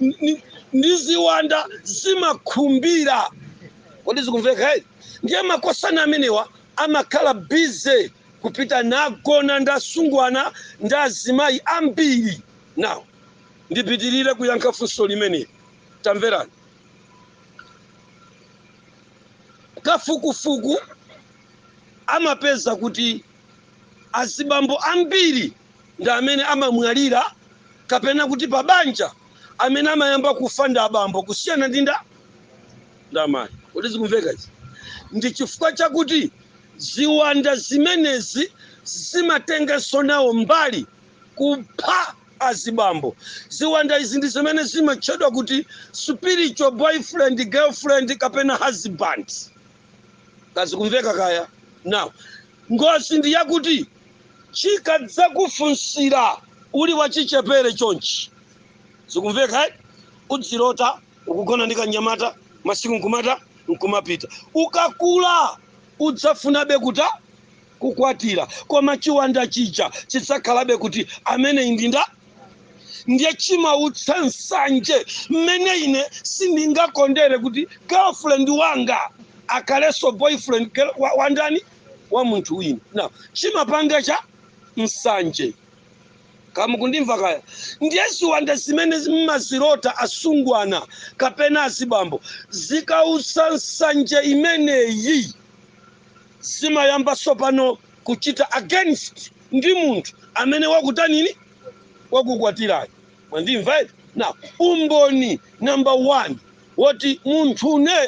Ni- ni- ndi ziwanda zimakhumbira kodi zikumveka eh? ndiye makosana amenewa amakhala busy kupita nagona ndi asungwana ndi azimayi ambiri. Now ndipitirire kuyankha funso limene. Tamverani. Kafukufuku amapeza kuti azibambo ambiri ndi amene amamwalira kapena kuti pabanja amene amayamba kufa ndi abambo kusiyana ndi ndani. nda amayi kodi zikumveka izi ndi chifukwa chakuti ziwanda zimenezi zimatenganso nawo mbali kupha azibambo ziwanda izi ndi zimene zimatchedwa kuti spiritual boyfriend girlfriend kapena husband kaya zikumveka kaya now ngozi ndi yakuti chikadzakufunsira uli wachichepere chonchi zikumveka eh? udzilota ukugona ndi kanyamata masiku nkumata nkumapita ukakula udzafunabe kuta kukwatira koma chiwanda chija chidzakhalabe kuti amene indi nda ndiye chimautsa nsanje mmene ine sindingakondere kuti girlfriend wanga akhalenso boyfriend girl- wa- wandani wa munthu wina now chimapanga cha nsanje kaya mukundimva kaya ndiye ziwanda zimene mmazilota asungwana kapena azibambo zikautsa nsanje imeneyi zimayamba tsopano kuchita against ndi munthu amene wakutanini wakukwatirayo mwandimva eti now umboni number one woti munthune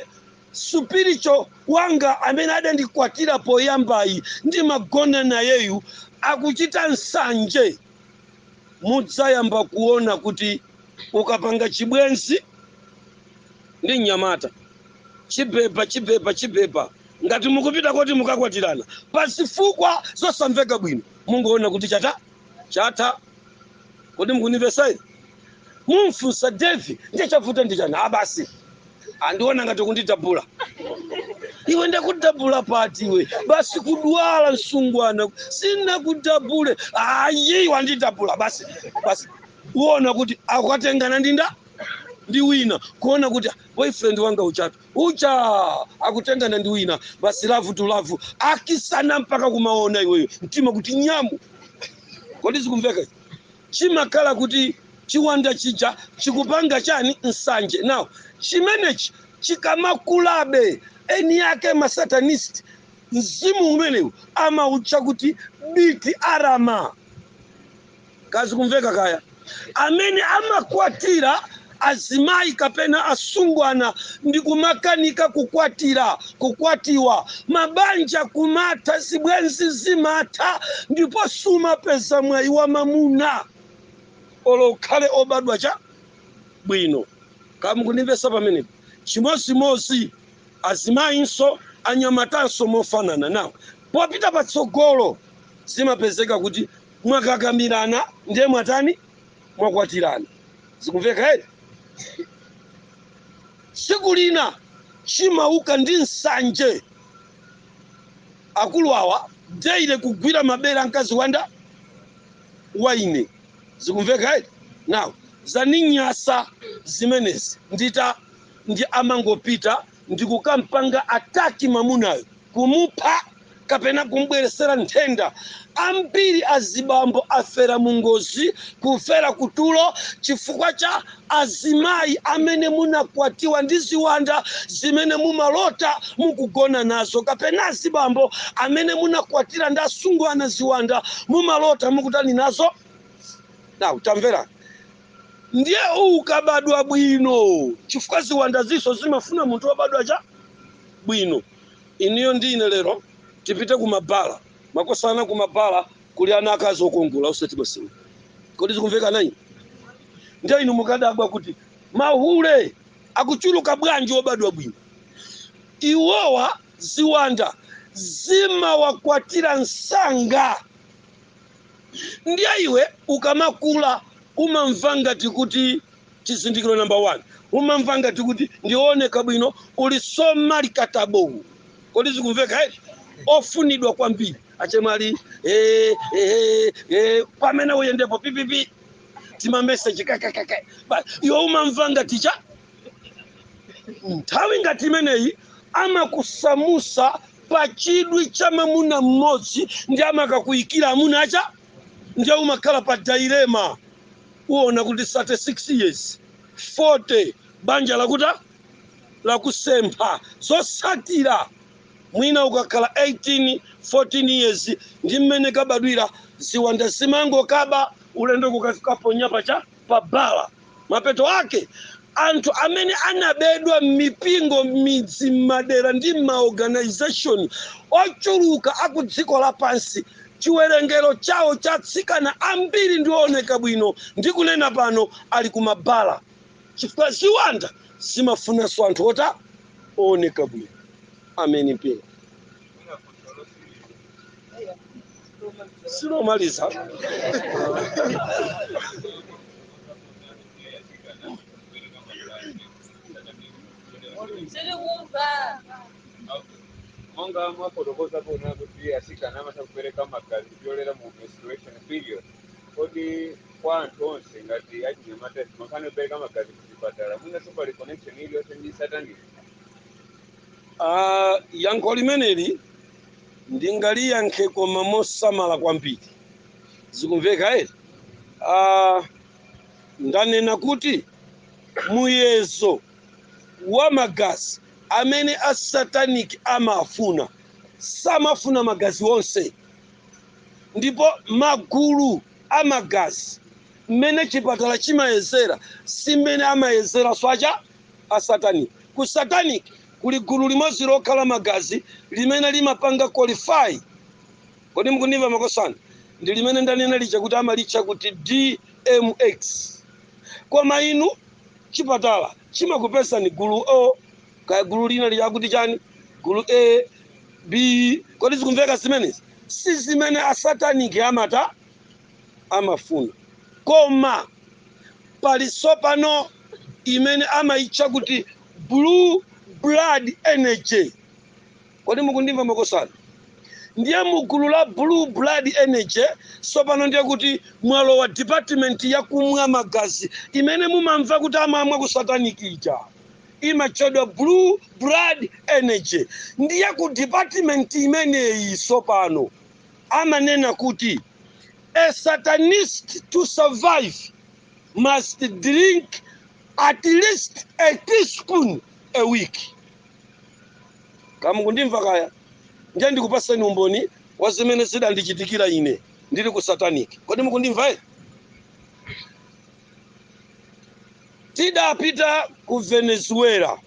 spiritual wanga amene adandikwatira poyambayi ndimagona nayeyu akuchita nsanje mudzayamba kuona kuti ukapanga chibwenzi ndi mnyamata chibeba chibeba chibeba ngati mukupita koti mukakwatirana pa zifukwa zosamveka bwino mungoona kuti chatha chatha kodi mukundimvetsa ine mumfunsa devi ndiye chavuta ndi chani a basi ndiona ngati kundidabula iwe ndakudabula pati iwe basi kudula msungwana sinakudabule ayi wandidabula basi basi uona kuti akatengana ndi nda ndi wina kuona kuti boyfriend wanga ujatu uja akutengana ndi wina basi love to love akisana mpaka kumaona iweyo mtima kuti nyamu kodi zikumveka izi? chimakhala kuti chiwanda chija chikupanga chani nsanje now chimenechi chikamakulabe eni ake masatanist mzimu umenewu amautcha kuti biti arama kaya zikumveka kaya amene amakwatira azimayi kapena asungwana ndi kumakanika kukwatira, kukwatiwa, mabanja kumatha, zibwenzi zimatha, ndipo sumapeza mwayi wa mamuna olo ukhale obadwa cha bwino. Kaya mukundimvetsa pamenepo? Chimodzimodzi azimayinso, anyamatanso mofanana. Now, popita patsogolo zimapezeka kuti mwakakamirana ndiye mwatani? mwakwatirana. Zikumveka eti? Tsiku lina chimauka ndi nsanje. Akulu awa daily kugwira mabere a mkazi wanga wa ine. Zikumveka eti? Now zaninyasa zimenezi nditani amangopita ndikukampanga attack mamunayo kumupha kapena kumbweresera nthenda ambiri azibambo afera mungozi kufera kutulo chifukwa cha azimayi amene munakwatiwa ndi ziwanda zimene mumalota mukugona nazo kapena azibambo amene munakwatira ndi asungwana ziwanda mumalota mukutani nazo now tamverani ndiye ukabadwa bwino chifukwa ziwandazinso zimafuna munthu wobadwa cha bwino inuyo ndi ine lero tipite kumabala makosana kumabala kuli ana akazi okongola osati masewera kodi zikumveka nayi ndiye inu mukadabwa kuti mahule akuchuluka bwanji obadwa bwino iwowa ziwanda zimawakwatira msanga ndiye iwe ukamakula umamva ngati kuti chizindikiro number 1 umamva ngati kuti ndi ooneka bwino uli so marketable kodi zikumveka eti ofunidwa kwambiri achemwali eh, eh, eh, pamene uyendepo pipipi timameseji kakakaka iwe umamva ngati cha nthawi ngati imeneyi amakusamutsa pa chidwi cha mamuna mmodzi ndi amakakuyikira amuna acha ndiye umakhala pa dilemma uona kuti 36 years 40 banja lakutani lakusempha zosatira mwina ukakhala 18 14 years ndi mmene kabadwira ziwanda zimangokaba ulendo kukafikaponya pacha pa bala mapeto ake anthu amene anabedwa m'mipingo m'midzi m'madera ndi m'maorganization ochuluka aku dziko lapansi chiwerengero chawo cha atsikana ambiri ndi ooneka bwino ndi kunena pano ali ku mabala chifukwa ziwanda zimafunanso anthu ota ooneka bwino amene mpingo lomaliza monga mwafotokoza kuona kuti atsikana amatha kupereka magazi kupyolera mu menstruation period kodi kwa anthu onse ngati achinyamata nkhani yopereka magazi kuchipatala mwinanso pali connection iliyonse ndi satanic Ah, yankho limeneli ndingaliyankhe koma mosamala kwambiri zikumveka eti uh, ndanena kuti muyezo wa magazi amene asataniki amafuna samafuna magazi onse ndipo magulu a magazi mmene chipatala chimayezera si mmene amayezeranso acha a satanic. Ku satanic kuli gulu limodzi lokha la magazi limene limapanga qualify. Kodi mukundimva makosana? Ndi limene ndanena lija kuti amalitcha kuti DMX. Koma inu chipatala chimakupezani gulu O kaya gulu lina lija akuti chani? Gulu A, B. Kodi zikumveka zimenezi? Si zimene asataniki amata amafuna. Koma pali tsopano imene amaitcha kuti blue blood energy. Kodi mukundimva makosana? Ndiye mu gulu la blue blood energy tsopano ndiye kuti mwalowa department ya kumwa magazi imene mumamva kuti amamwa ku satanic ija imatchedwa blue blood energy. Ndiye ku department imeneyi tsopano amanena kuti, A Satanist to survive must drink at least a teaspoon a week. Kaya mukundimva kaya? Ndiye ndikupatseni umboni wa zimene zidandichitikira ine ndili ku satanic. Kodi mukundimva eti? Tidapita ku Venezuela.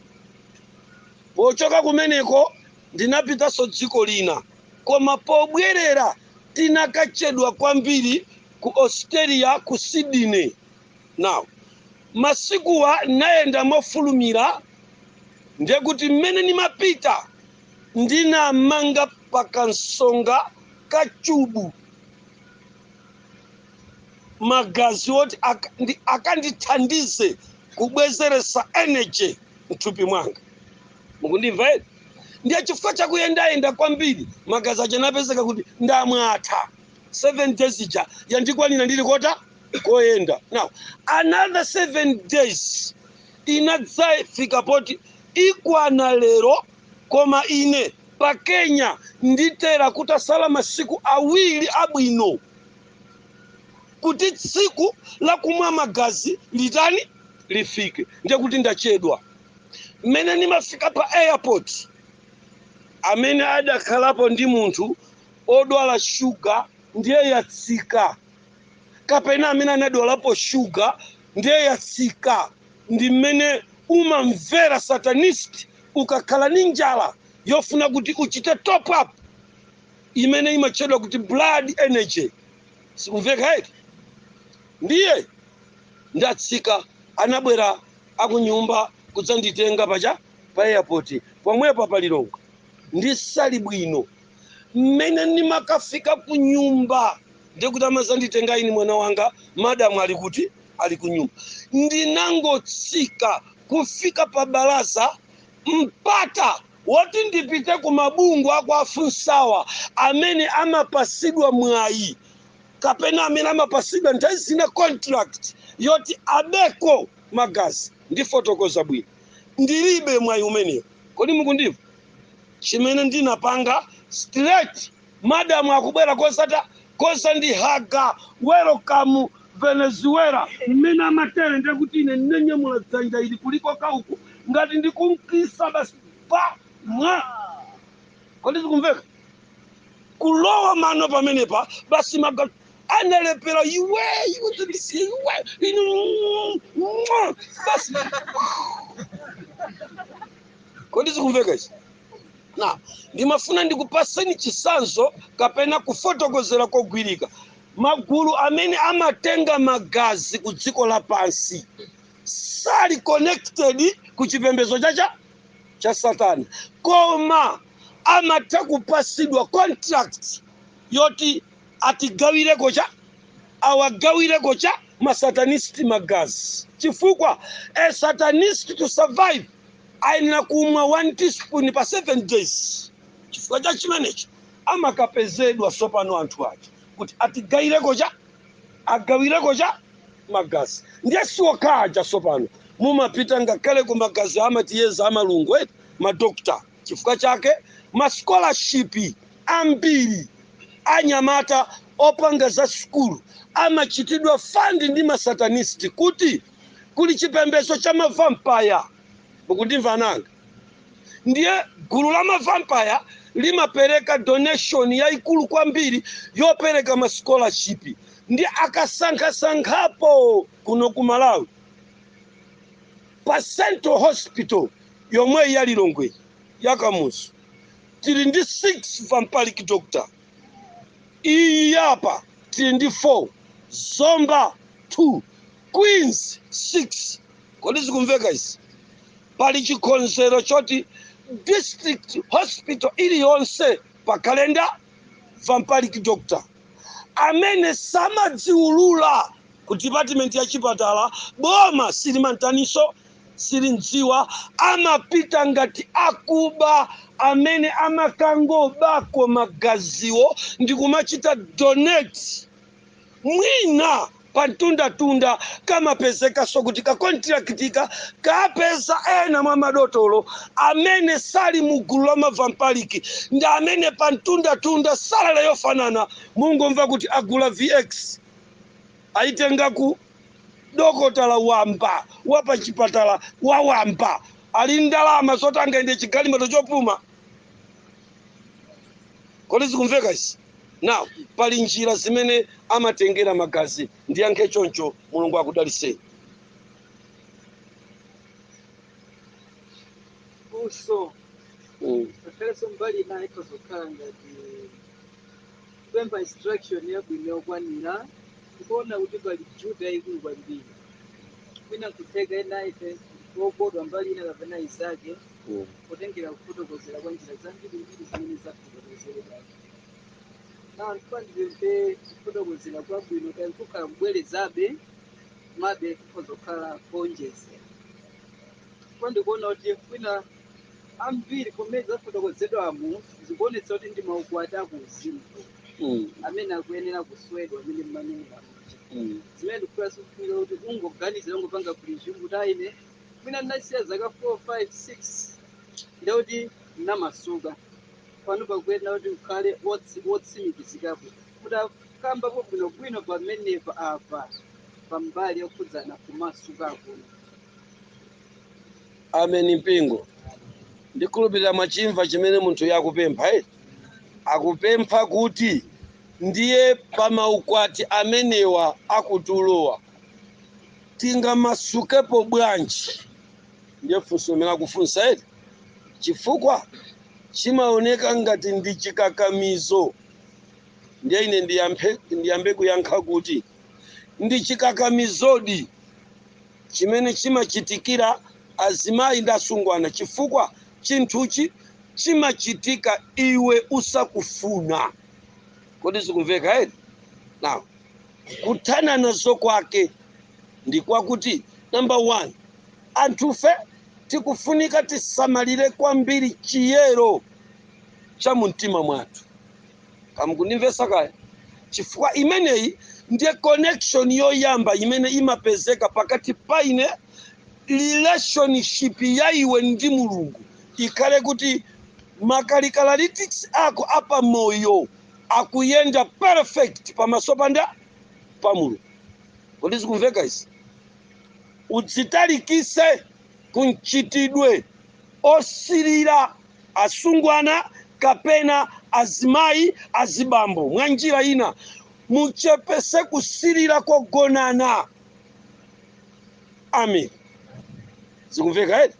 Pochoka kumeneko ndinapitanso dziko lina, koma pobwerera tinakachedwa kwambiri ku Australia ku Sydney. Now, masiku anayenda mofulumira ndiye kuti mmene nimapita ndinamanga pa kansomba ka chubu. magazi oti ak- ndi- akandithandize kubwezeretsa energy mthupi mwanga mukundimva eti ndiye chifukwa chakuyendayenda kwambiri magazi aja anapezeka kuti ndamwatha seven days ija yandikwanira ndili kota koyenda now another seven days inadzafika poti ikwana lero koma ine pa Kenya nditera kutasala masiku awiri abwino kuti tsiku la kumwa magazi litani lifike, ndiye kuti ndachedwa. Mmene ndimafika pa airport, amene adakhalapo ndi munthu odwala shuga ndiye yatsika. kapena amene anadwalapo shuga ndiye yatsika ndi mmene umamvera satanist ukakhala ndi njala yofuna kuti uchite top up imene imatchedwa kuti blood energy sikumveka eti ndiye ndatsika anabwera akunyumba kudzanditenga paja pa airport pomwepa pa Lilongwe ndisali bwino mmene ndimakafika ku nyumba ndiye kuti amazanditenga ine mwana wanga madamu ali kuti ali ku nyumba ndinangotsika kufika pa balaza mpata woti ndipite ku mabungwe aku Africawa amene amapasidwa mwayi kapena amene amapasidwa nthawi zina contract yoti abeko magazi ndifotokoza bwino ndilibe mwayi umenewo kodi mukundimva chimene ndinapanga straight madam akubwera kozata kuzandihaga welcome venezuela mmene amatere ndiye kuti ine ndinanyamula dzanja ili kulikoka uku ngati ndikumkisa basi pa mwa kodi zikumveka kulowa mano pamenepa basi maga analephera iwe iwe tandisiye iwe inu mwa, basi kodi zikumveka izi na ndimafuna ndikupaseni chisanzo kapena kufotokozera kogwirika magulu amene amatenga magazi ku dziko lapansi sali connected ku chipembedzo cha satana koma amatha kupasidwa contract yoti atigawireko cha awagawireko cha masatanist magazi chifukwa a satanist to survive ayenera kumwa one teaspoon pa seven days chifukwa cha chimenecho amakapezedwa tsopano anthu ake kuti atigawireko cha agawireko cha magazi ndiye siokhaja tsopano mumapita ngakhale ku magazi amatiyeza amalungu eti madokta Chifukwa chake ma scholarship ambiri anyamata opanga za sukulu amachitidwa fund ndi ma satanist kuti kuli chipembezo cha ma vampire. Mukundimva ana anga? Ndiye gulu la ma vampire limapereka donation yaikulu kwambiri yopereka ma scholarship ndiye akasankhasankhapo kuno ku Malawi. Pa central hospital yomweyi ya Lilongwe ya Kamuzu tili ndi 6 vampiric doctor, iyi ya apa tili ndi 4, Zomba 2, Queens 6. Kodi zikumveka izi? Pali chikonzero choti district hospital iliyonse pakhale nda? Vampiric doctor. amene samadziulula ku dipatimenti ya chipatala boma silimamtaninso silimdziwa amapita ngati akuba amene amakangobako magaziwo ndikumachita donate mwina pa mtundatunda kamapezekanso kuti kakontilakitika kapeza ena mwa madotolo amene sali mu gulu la mavampiric ndi amene pa mtundatunda salale yofanana mungoomva kuti agula VX ayitenga ku dokotala wamba wa pa chipatala wa wamba ali ndi ndalama zoti angayende chigalimoto chopuma. kodi zikumveka izi now pali njira zimene amatengera magazi ndiyankhe choncho mulungu akudaliseni funso mm. ngakhalenso mbali ina ikhoza kukhala ngati kupempha instruction yabwino yokwanira ndikuona kuti pali juda yayikulu kwambiri mwina kutheka ena ife okodwa mbali ina kapena izake Mm. potengera kufotokozera kwa njira zambirimbiri zimene zafotokozeredwa nawo ndiye ndipemphe kufotokozera kwabwino kaya kukhala kubwerezabe mabe kukhoza kukhala kuonjezera ndipo ndikuona kuti kwina ambiri mmene zafotokozedwamo zikuonetsa kuti ndi maukwati akuuzimu Mm. amene akuyenera kuswedwa amene mmanenera kuti Mm. zimene ndikufuna sikufunika kuti ungoganizira ungopanga presume kuti aine mwina ndinasiya zaka 4 5 6 ndiye kuti ndinamasuka pano pakuyenera kuti ukhale wotsi- wotsimikizikapo kuti akambapo bwinobwino pamenepa apa pambali yokhudzana kumasuka kuno ameni mpingo ndikhulupirira mwachimva chimene munthuyu akupempha eh? akupempha kuti ndiye pa maukwati amenewa akutulowa tingamasukepo bwanji ndiye funso limene akufunsa eti chifukwa chimaoneka ngati ndi chikakamizo ndiye ine ndiyambe, ndiyambe kuyankha kuti ndi chikakamizodi chimene chimachitikira azimayi ndi asungwana chifukwa chinthuchi chimachitika iwe usakufuna kodi zikumveka eti now kuthana nazo kwake ndi kwakuti namba 1 anthufe tikufunika tisamalire kwambiri chiyero cha mu mtima mwathu kaya mukundimvetsa kaya chifukwa imeneyi ndiye connection yoyamba imene imapezeka pakati pa ine relationship ya iwe ndi mulungu ikhale kuti makarakitaristics ako apamoyo akuyenda perfect pamaso pa ndani pa mulungu kodi zikumveka izi udzitalikise ku mchitidwe osirira asungwana kapena azimayi azibambo mwa njira ina muchepese kusirira kogonana Amen. Zikumveka eti?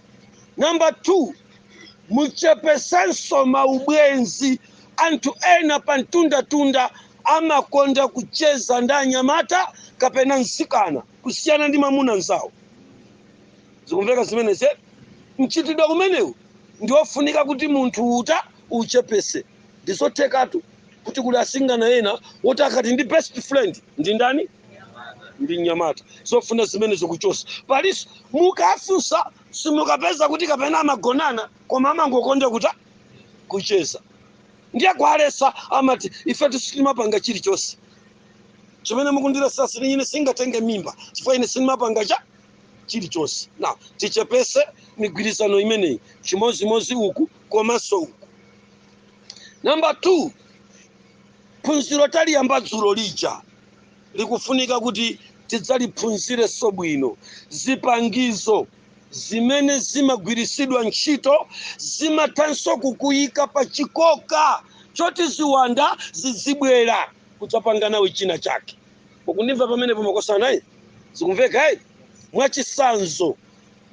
Namba 2, muchepesenso maubwenzi. Anthu ena pa mtundatunda amakonda kucheza ndi anyamata kapena mtsikana kusiyana ndi mamuna mzawo. Zikumveka zimenezi? eti? Mchitidwe umenewu ndi wofunika kuti munthu utani uchepese. Ndizothekatu kuti kuli asungwana ena woti akati ndi best friend ndi ndani? ndi mnyamata zofuna zimenezo kuchosa paliponso mukafunsa simukapeza kuti kapena amagonana koma amangokonda kutani kucheza ndiye kuwaletsa amati ifetu sitimapanga chilichonse chimene mukundiletsa sini ine sindingatenge mimba chifukwa ine sindimapanga chani chilichonse now tichepese migwirizano imeneyi chimozimozi uku komanso uku namba 2 phunziro taliyamba dzulo lija likufunika kuti tidzaliphunzirenso bwino. Zipangizo zimene zimagwiritsidwa ntchito zimathanso kukuyika pa chikoka choti ziwanda zidzibwera kudzapanga nawe china chake. Mukundimva pamenepo makosana? eh? Zikumveka? eh? Mwachitsanzo,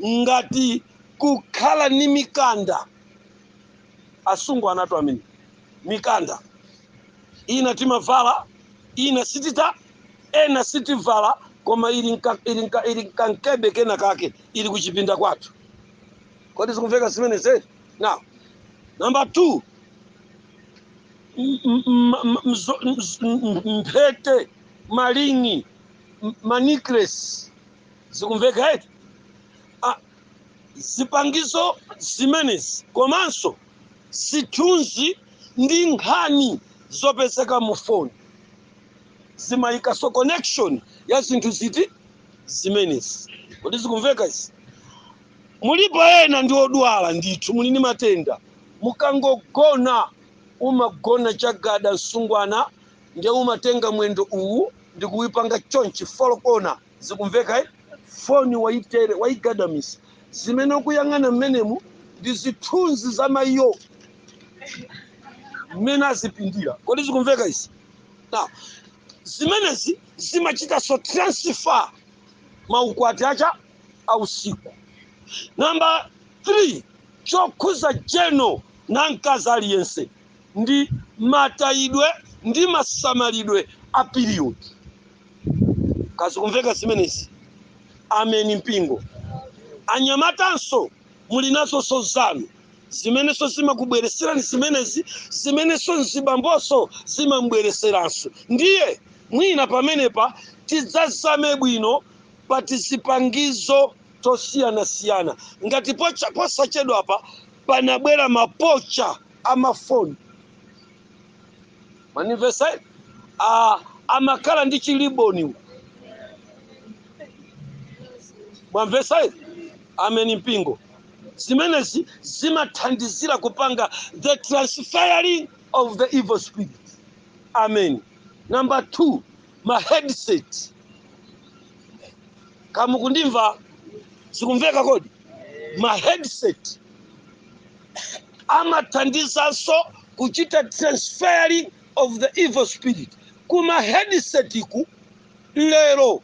ngati kukhala ni mikanda asungwana athu amene mikanda ina timavala ina sititani ena sitivala koma ili m'kankebe kena kake ili kuchipinda kwathu kodi zikumveka zimenezi eti now number two m- m- m- m- mzo- mz- m- m- mphete maring manecklace zikumveka eti Ah, zipangizo zimenezi komanso Zithunzi ndi nkhani zopezeka mu foni zimayikanso connection ya zinthu ziti? Zimenezi. Kodi zikumveka izi? Mulipo ena ndi odwala ndithu, muli ndi matenda, mukangogona umagona chagada msungwana nde umatenga mwendo uwu ndikuipanga chonchi, 4 kona, zikumveka eh? foni waitere waigadamisa zimene ukuyang'ana mmenemu ndi zithunzi za mayiyo mmene azipindira kodi zikumveka izi now zimenezi zimachitanso transfer maukwati achani ausiku namba 3 chokhudza jeno na mkazi aliyense ndi matayidwe ndi masamalidwe a piriyodi. Kaya zikumveka zimenezi? Ameni mpingo. Anyamatanso muli nazoso zanu zimenenso zimakubweretserani zimenezi zimenenso mzibambonso zimambweretseranso. Ndiye mwina pamenepa tidzazame bwino pa tizipangizo tosiyanasiyana ngati pocha- posachedwapa panabwera mapocha amafoni mwandimvetsa ah, amakhala ndi chiliboni mwamvetsa ameni mpingo zimenezi zimathandizira kupanga the transferring of the evil spirit amen number two ma headset kaya mukundimva zikumveka kodi ma headset amathandizanso kuchita transferring of the evil spirit kuma headsetku lero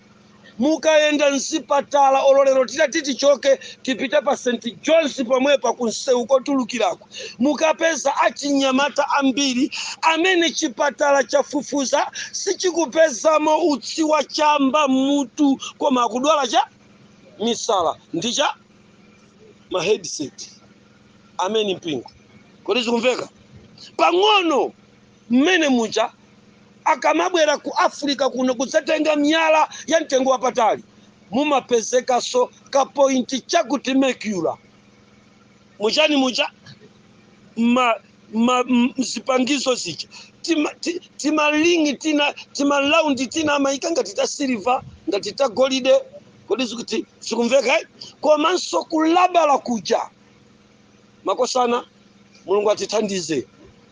mukayenda mzipatala olo lero titati tichoke tipite pa st johns pomwepa kunsewu kotulukirako mukapeza achinyamata ambiri amene chipatala chafufuza sichikupezamo utsi wa chamba mmutu koma akudwala cha misala ndi cha ma headset ameni mpingo kodi zikumveka pang'ono mmene muja akamabwera ku africa kuno kudzatenga miyala ya mtengo wapatali mumapezekanso ka point chakuti mercury muchani muja ma, ma, m- zipangizo zija Tima- ti- timalingi tina timalaundi tina amayika ngati ta siliva ngati ta golide kodi zikuti zikumveka eh? komanso kulabala kuja makosana mulungu atithandize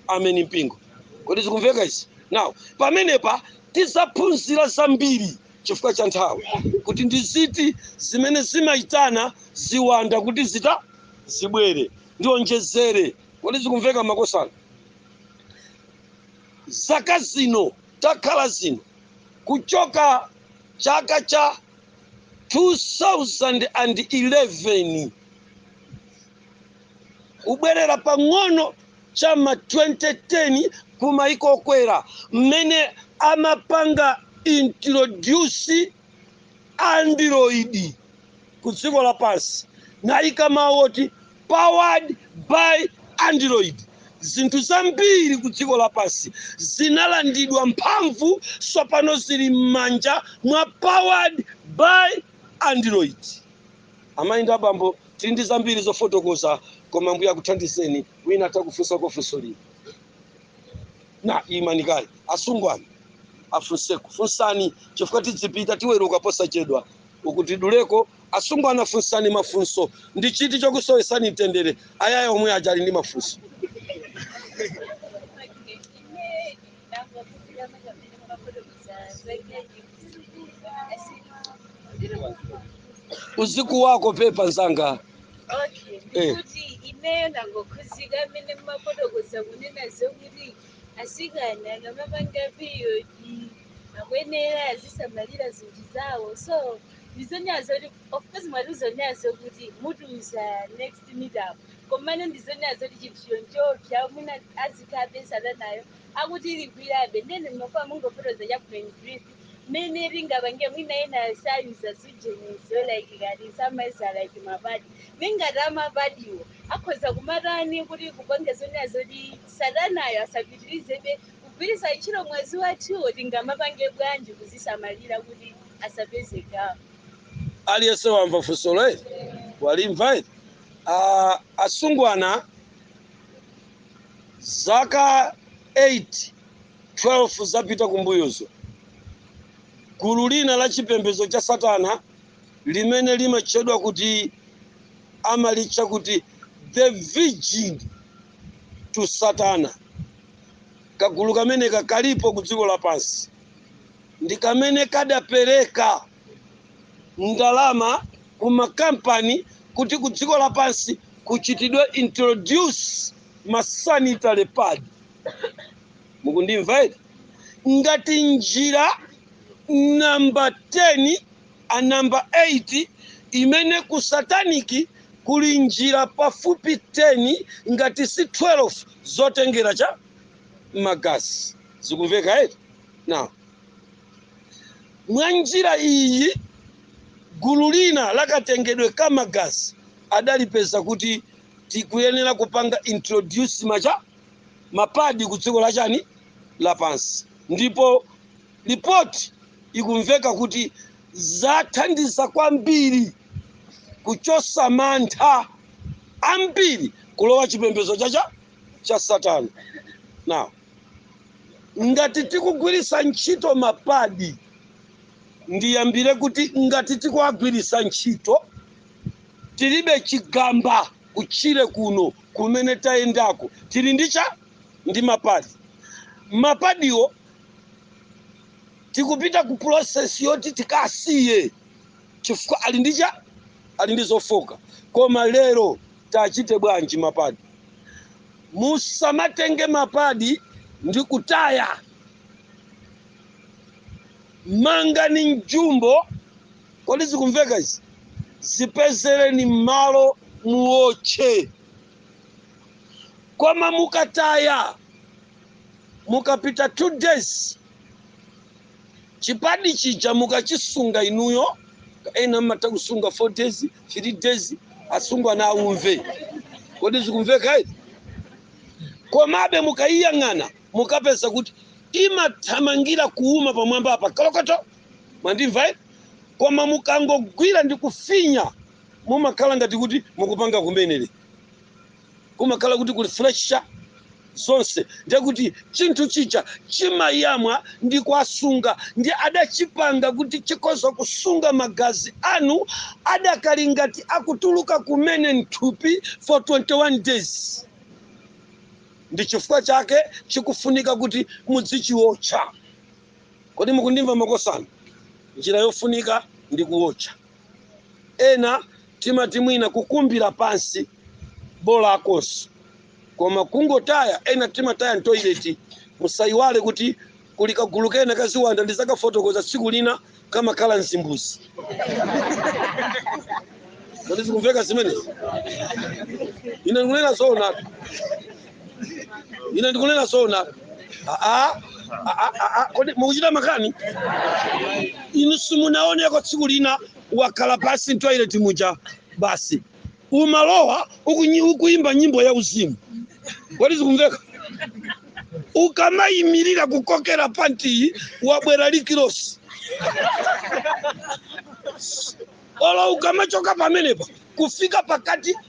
ameni mpingo kodi zikumveka izi now pamenepa tidzaphunzira zambiri chifukwa cha nthawi kuti ndi ziti zimene zimayitana ziwanda kuti zita zibwere ndionjezere kodi zikumveka makosana zaka zino takhala zino kuchoka Chaka cha 2011 kubwerera pang'ono cha ma 2010 ku maiko okwera mmene amapanga introduce Android. ku dziko lapansi nayika mawu oti powered by android zinthu zambiri ku dziko lapansi zinalandidwa mphamvu tsopano zili m'manja mwa powered by android amayi ndi abambo tili ndi zambiri zofotokoza koma ambuye akuthandizeni wina atha kufunsako funso lino na imanikali asungwana afunseko funsani chifukwa tidzipita tiweruka posachedwa uku tiduleko asungwana funsani mafunso ndi chiti chokusowesani mtendere ayaya omwe aja ali ndi mafunso uzikuwako pepa nzanga Okay, Eh. ndikuti ineyo ndangokhuzika mmene mumafotokoza kunena zokuti asikana akamapanga period akuyenera azisamalira zinthu zawo so ndi zonena zokuti of course mwati zonena zokuti mutiuza next meetup komano ndi zonena zokuti chinthucho nchoopsa mwina azikhabe satanayo akutigwirabe ndene mmafuna mungofotokoza chabe in brief mmene tingapange mwina ena sayuza zujenizo like kati samayuza like mapadi nde ngati amapadiwo akhoza kumatani kuti kupanga zonena zoti satanayo asapitirizebe Kugwiritsa ntchito mwazi wathuwo tingamapange bwanji kuzisamalira kuti asapeze gawo? Aliyense wamva funsolo eti? Walimva eti? Ah, asungwana zaka 8, 12 zapita kumbuyozo, gulu lina la chipembedzo cha Satana limene limatchedwa kuti amalitcha kuti the virgin to Satana Kagulu kameneka kalipo ku dziko lapansi, ndi kamene kadapereka ndalama ku makampani kuti ku dziko lapansi kuchitidwe introduce ma sanitary pad. Mukundimva eti? Ngati njira namba 10 a number 8 imene ku satanic kuli njira pafupi 10 ngati si 12 zotengera cha magazi zikumveka eti now mwa njira iyi gulu lina lakatengedwe ka magazi adalipeza kuti tikuyenera kupanga introduce ma cha mapadi ku dziko la chani lapansi ndipo Lipoti ikumveka kuti zathandiza kwambiri kuchotsa mantha ambiri kulowa chipembedzo cha cha cha Satana. Now, ngati tikugwiritsa ntchito mapadi, ndiyambire kuti ngati tikuwagwiritsa ntchito tilibe chigamba kutchire kuno kumene tayendako tili ndi cha ndi mapadi mapadiwo tikupita ku process yoti tikasiye chifukwa ali ndi cha ali ndi zofooka koma lero tachite bwanji mapadi musamatenge mapadi ndi kutaya mangani mjumbo kodi zikumveka izi zipezereni malo muotche koma mukataya mukapita 2 days chipadi chija mukachisunga inuyo ena mmatha kusunga 4 days 3 days asungwana aumve kodi zikumveka eti komabe mukayiyang'ana mukapeza kuti imathamangira kuuma pamwamba apa kolokoto mwandimva eti koma mukangogwira ndi kufinya mumakhala ngati kuti mukupanga kumenere kumakhala kuti kuli fresha zonse ndiye kuti chinthu chija chimayamwa ndi kuwasunga ndiye adachipanga kuti chikhoza kusunga magazi anu adakali ngati akutuluka kumene mthupi for 21 days ndi chifukwa chake chikufunika kuti mudzichiotcha kodi mukundimva makosana njira yofunika ndi kuotcha Ena timati mwina kukumbira pansi bolakonso koma kungotaya, ena timataya m'toilet. Musaiwale kuti kuli kagulu kena ka ziwanda ndizakafotokoza tsiku lina kamakhala m'zimbuzi. Kodi zikumveka zimenezi? Ine ndikunena zoonatu. ine ndikunena zona Ah, ah, ah, ah, ah, kodi mukuchita makani inu simunaoneko tsiku lina wakhala pansi mtoilet muja basi umalowa ukunyi- ukuyimba nyimbo ya uzimu kodi zikumveka ukamayimirira kukokera pantiyi wabwera likilosi olo ukamachoka pamenepa kufika pakati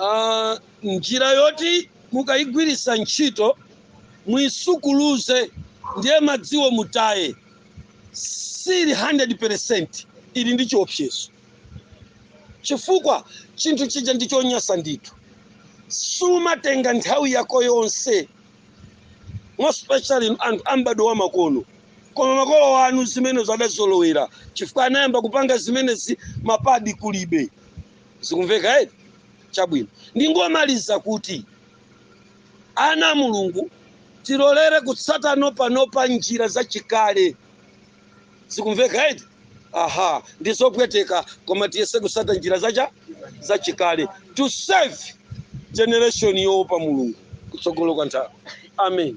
Ah, njira yoti mukayigwirisa ntchito muyisukuluze ndiye madziwo mutaye sili 100% ili ndi chiopsezo chifukwa chinthu chija ndi chonyasa ndithu sumatenga nthawi yako yonse most especially in- anthu a mbadwo wa makono koma makolo anu zimenezi adazolowera chifukwa anayamba kupanga zimenezi mapadi kulibe zikumveka eti chabwino ndingomaliza kuti ana a mulungu tilolere kutsata no panopa njira zachikale zikumveka eti aha ndizopweteka koma tiyese kusata njira zacha zachikale to save generation yoopa mulungu kutsogolo kwa nthawi amen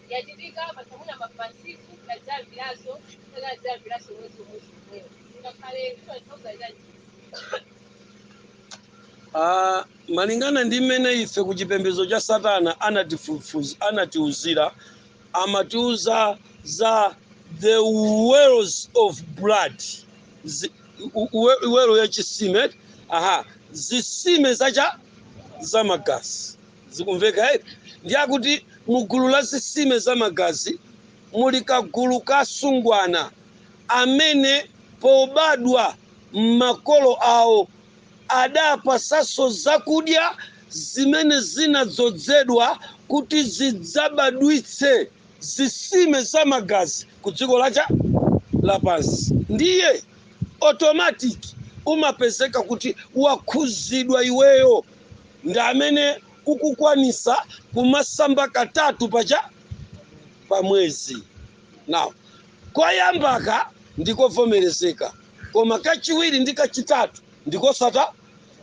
yachitika paja mwina ma Francisco tadzayambiranso kapena adzayambiranso mwezi umodzi umwewo ngakhale kutanthauza chani Ah, malingana ndi mmene ife ku chipembedzo cha satana anatiuzira amatiuza za the wells of blood Zi- u- uwe- well ya chisime aha zisime zacha za magazi zikumveka eti ndiye akuti mu gulu la zisime za magazi muli kagulu ka asungwana amene pobadwa m'makolo awo adapasidwaso zakudya zimene zinadzodzedwa kuti zidzabadwitse zisime za magazi ku dziko lacha lapansi ndiye automatic umapezeka kuti wakhuzidwa iweyo ndi amene ukukwanisa kumasamba katatu pacha pa mwezi now koyambaka ndikovomerezeka koma kachiwiri ndi kachitatu ndi kwa satana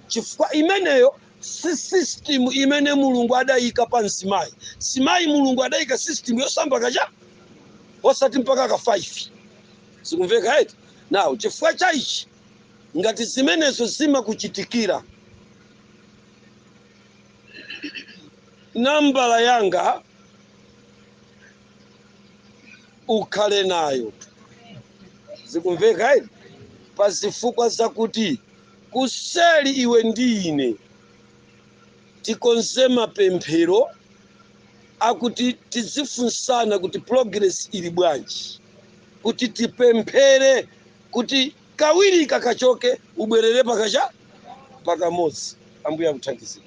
chifukwa imeneyo si system imene mulungu adayika pa mzimayi mzimayi mulungu adayika system yosamba kacha osati mpaka ka 5 zikumveka eti now chifukwa cha ichi Ngati zimenezo zimakuchitikira, nambala yanga ukhale nayo. Zikumveka eti? Pa zifukwa zakuti kuseli iwe ndi ine tikonze mapemphero akuti tizifunsana kuti progress ili bwanji, kuti tipemphere kuti kawiri kakachoke ubwerere pa kacha pa kamodzi ambuye akuthandizire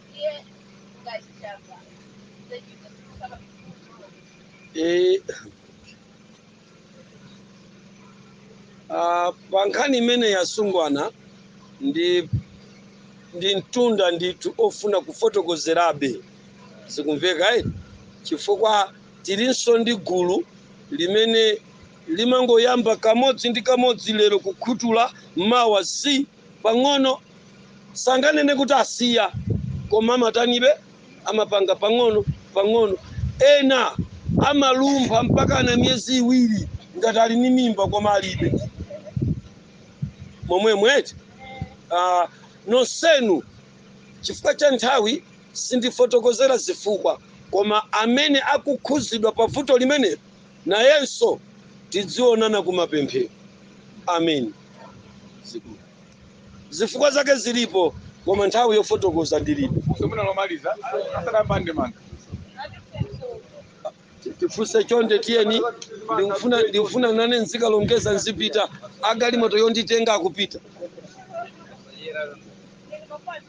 Eh, ah, pa nkhani imene yasungwana ndi mtunda ndithu ofuna kufotokozerabe zikumveka eti? chifukwa tilinso ndi gulu limene limangoyamba kamodzi ndi kamodzi lero kukhutula mawa zi pang'ono sanganene kuti asiya koma amatanibe amapanga pang'ono pang'ono ena amalumpha mpakana miyezi iwiri ngati ali ni mimba koma alibe momwemo eti uh, nonsenu chifukwa cha nthawi sindifotokozera zifukwa koma amene akukhuzidwa pa vuto limenelo Nayenso tidzionana kumapemphero amen zifukwa zake zilipo koma nthawi yofotokoza ndilibe Semina lomaliza asadayamba ndemanga. tifunse chonde tiyeni ndikufuna nane nzikalongeza nzipita agalimoto yonditenga akupita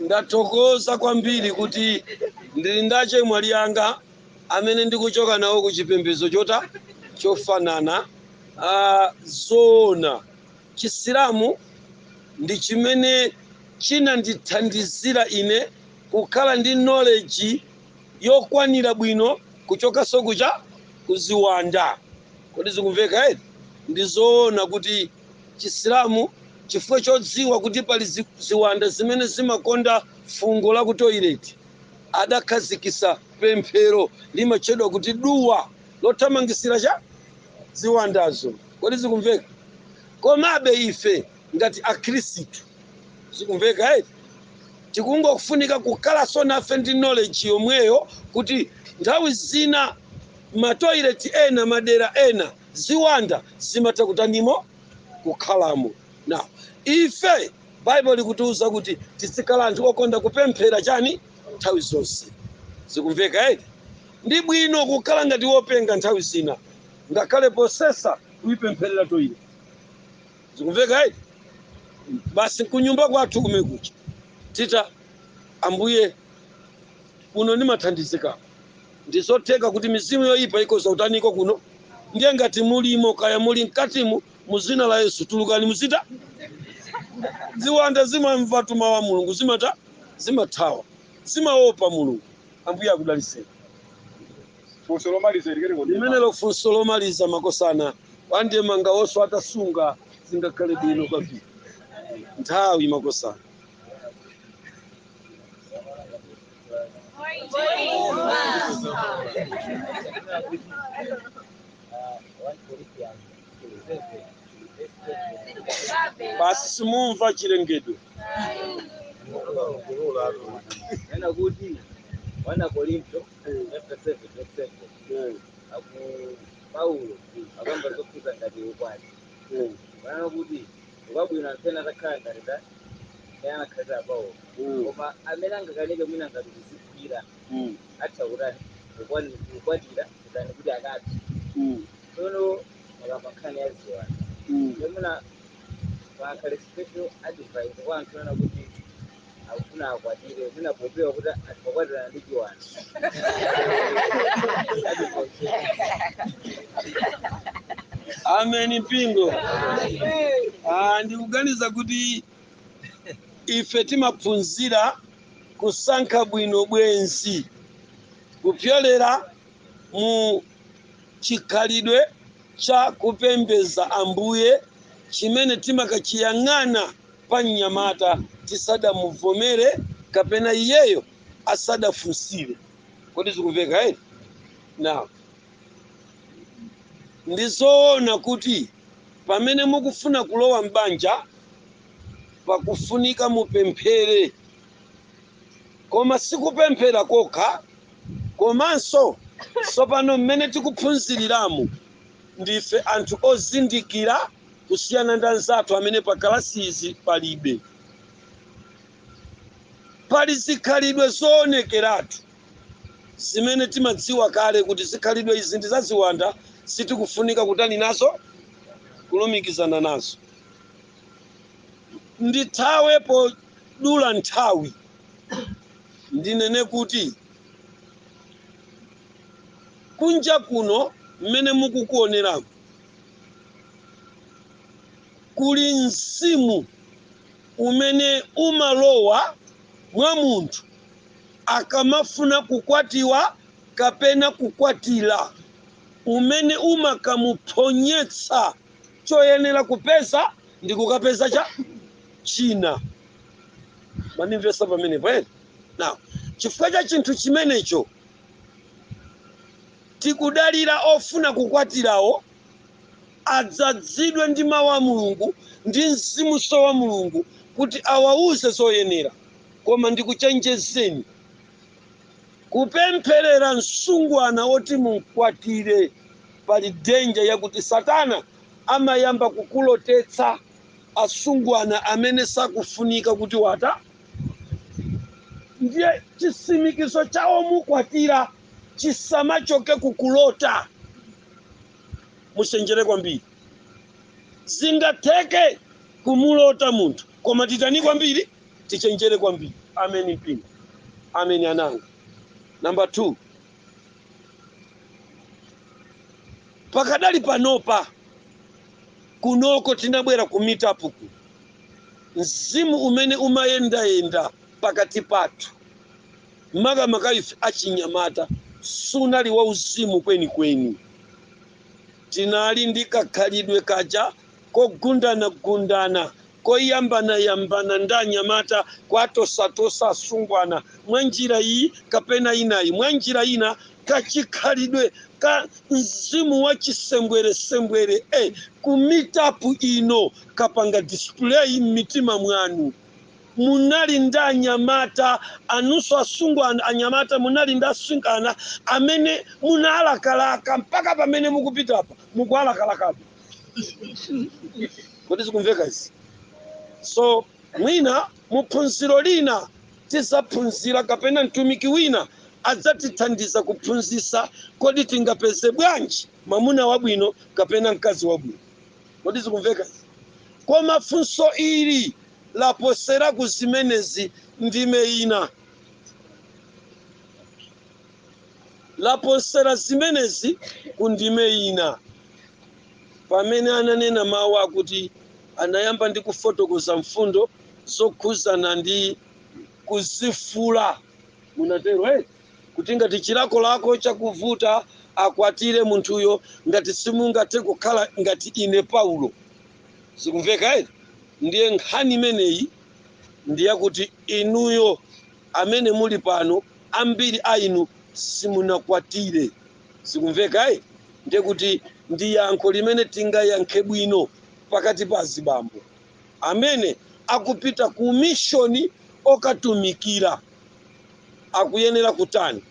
ndathokoza kwambiri kuti ndili ndi achemwali anga amene ndikuchoka nawo ku chipembedzo chota chofanana uh, zoona chisilamu ndi chimene chinandithandizira ine kukhala ndi knowledge yokwanira bwino kuchokanso kucha kuziwanda kodi zikumveka eti ndi zoona kuti chisilamu chifukwa chodziwa kuti pali zi- ziwanda zimene zimakonda fungo la ku toilet adakhazikisa pemphero limatchedwa kuti duwa lothamangisira cha ziwandazo kodi zikumveka komabe ife ngati akhristu zikumveka eti tikungofunika kukhalanso nafe ndi knowledge yomweyo kuti nthawi zina matoileti ena madera ena ziwanda zimatha kutanimo kukhalamo na ife Bible likutiuza kuti tizikhala anthu okonda kupemphera chani nthawi zonse zikumveka eti ndi bwino kukhala ngati wopenga nthawi zina ngakhale posesa kuipempherera toilet zikumveka eti basi kunyumba kwathu kumene kuchalitchi kwa ambuye kuno ndimathandizika ndizotheka kuti mizimu yoyipa ikhoza kutaniko kuno ndiye ngati mulimo kaya muli mkatimu muzina la yesu tulukani muzita ziwanda zimamva tuma wa mulungu zimata zimathawa zimaopa mulungu ambuye akudaliseni funso lomaliza ili kale kodi limenelo funso lomaliza makosana wande mangawoso atasunga zingakhale bwino kwambiri nthawi makosana basi simumva chilengedwe Nena kuti wana Korinto chapter 7 verse 7 akulu paulo akamba zokhudza ngati ukwati kunena kuti ukwabwino anthu ena onse atakhala ngati ta ena anakhalira paulo koma amene angakanike mwina ngati kudzigwira atha kutani kukwani- kukwatira kutani kuti akati tsono akamba nkhani ya ziwanda yomuna pakhale special advice kwa anthu ena kuti akufuna akwatire mwina popewa kuti angakwatirane ndi chiwanda ameni mpingo Ah, ndikuganiza kuti ife timaphunzira kusankha bwino bwenzi kupyolera mu chikhalidwe cha kupembedza ambuye chimene timakachiyang'ana pa mnyamata tisadamuvomere kapena iyeyo asadafunsire kodi zikumveka eti now ndi zoona kuti pamene mukufuna kulowa m'banja pakufunika mupemphere koma sikupemphera kokha komanso tsopano mmene tikuphunziriramu ndife anthu ozindikira kusiyana ndi anzathu amene pa kalasizi palibe pali zikhalidwe zoonekeratu zimene timadziwa kale kuti zikhalidwe izi ndi zaziwanda sitikufunika kutani nazo kulumikizana nazo ndithawe podula nthawi ndinene kuti kunja kuno mmene mukukuoneraku kuli mzimu umene umalowa mwa munthu akamafuna kukwatiwa kapena kukwatira, umene umakamuphonyetsa choyenera kupeza ndi kukapeza cha china. Mwandimvetsa pamenepo eti? Now, chifukwa cha chinthu chimenecho Tikudalira ofuna kukwatirawo adzadzidwe ndi Mau a Mulungu ndi Mzimunso wa Mulungu kuti awauze zoyenera. Koma ndikuchenjezeni, kupempherera msungwana woti mumkwatire pali danger yakuti Satana amayamba kukulotetsa asungwana amene sakufunika kuti watani ndiye chisimikizo cha womukwatira. Chisamachoke ku kulota. Muchenjere kwambiri. Zingatheke kumulota munthu koma titani kwambiri? Tichenjere kwambiri. Ameni mpingo. Ameni ana anga. Number 2. Pakadali panopa kunoko tinabwera ku meet up ku mzimu umene umayendayenda pakati pathu makamaka ife achinyamata, sunali wauzimu kwenikweni. Tinali ndi kakhalidwe kaja kogundanagundana, koyambanayambana ndi anyamata, kuwatosatosa asungwana mwa njira iyi kapena inayi. Mwa njira ina, kachikhalidwe ka mzimu wa chisembweresembwere, eh, ku meet-up ino kapanga display m'mitima mwanu. munali ndi anyamata anunso asungwana anyamata munali ndi asungwana amene munalakalaka mpaka pamene mukupita apa mukuwalakalakabe kodi zikumveka izi so mwina muphunziro lina tizaphunzira kapena mtumiki wina adzatithandiza kuphunzisa kodi tingapeze bwanji mwamuna wabwino kapena mkazi wabwino Kodi zikumveka? Koma funso ili laposera ku zimenezi, ndime ina. Laposera zimenezi ku ndime ina, pamene ananena mawu akuti anayamba ndi kufotokoza mfundo zokhuzana ndi kuzifula. Munatero, eh? kuti ngati chilakolako chakuvuta akwatire munthuyo ngati simungathe kukhala ngati ine paulo zikumveka eti ndiye nkhani imeneyi ndiye kuti inuyo amene muli pano ambiri a inu simunakwatire zikumveka eti ndiye kuti ndi yankho limene tingayankhe bwino pakati pa azibambo amene akupita ku mishoni okatumikira akuyenera kutani?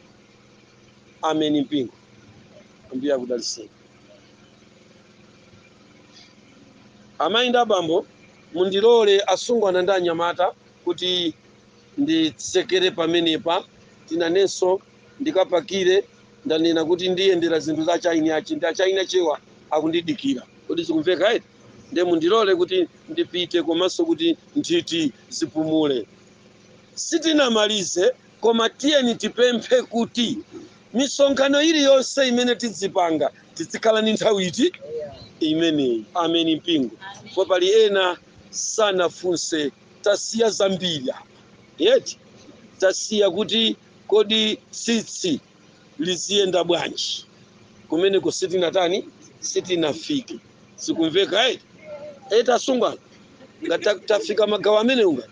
Ameni mpingo. Ambuye akudaliseni. Amayi ndi abambo, mundilole asungwana ndi anyamata kuti nditsekere pamenepa. Tinanenso ndikapakire ndanena kuti ndiyendera zinthu za chaini ache ndi a chaini achewa akundidikira. Kodi zikumveka eti? Ndiye mundilole kuti ndipite komanso kuti nthiti zipumule. Sitinamalize koma tiyeni tipemphe kuti misonkhano iliyonse imene tidzipanga tidzikhala ndi nthawi iti? Imeneyi. Ameni mpingo. Ndipo pali ena sanafunse tasiya zambiri eti? Tasiya kuti kodi tsitsi liziyenda bwanji kumeneko sitinatani sitinafike zikumveka eti? e tasungwana ngati ta- tafika magawo amenewo ngati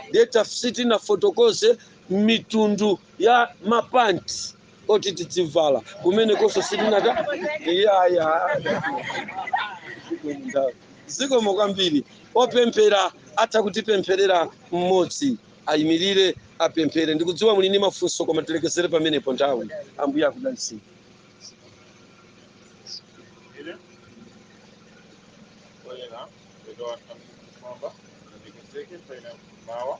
ndiye taf- sitinafotokoze mitundu ya mapanti oti tidzivala kumenekonso sitinata iyaya zikomo kwambiri opemphera atha kutipempherera mmodzi ayimilire apemphere ndikudziwa muli ndi mafunso koma tilekezere pamenepo nthawi ambuye akudalitseni Olha lá, melhor a samba, tem que ser que foi na Mawa,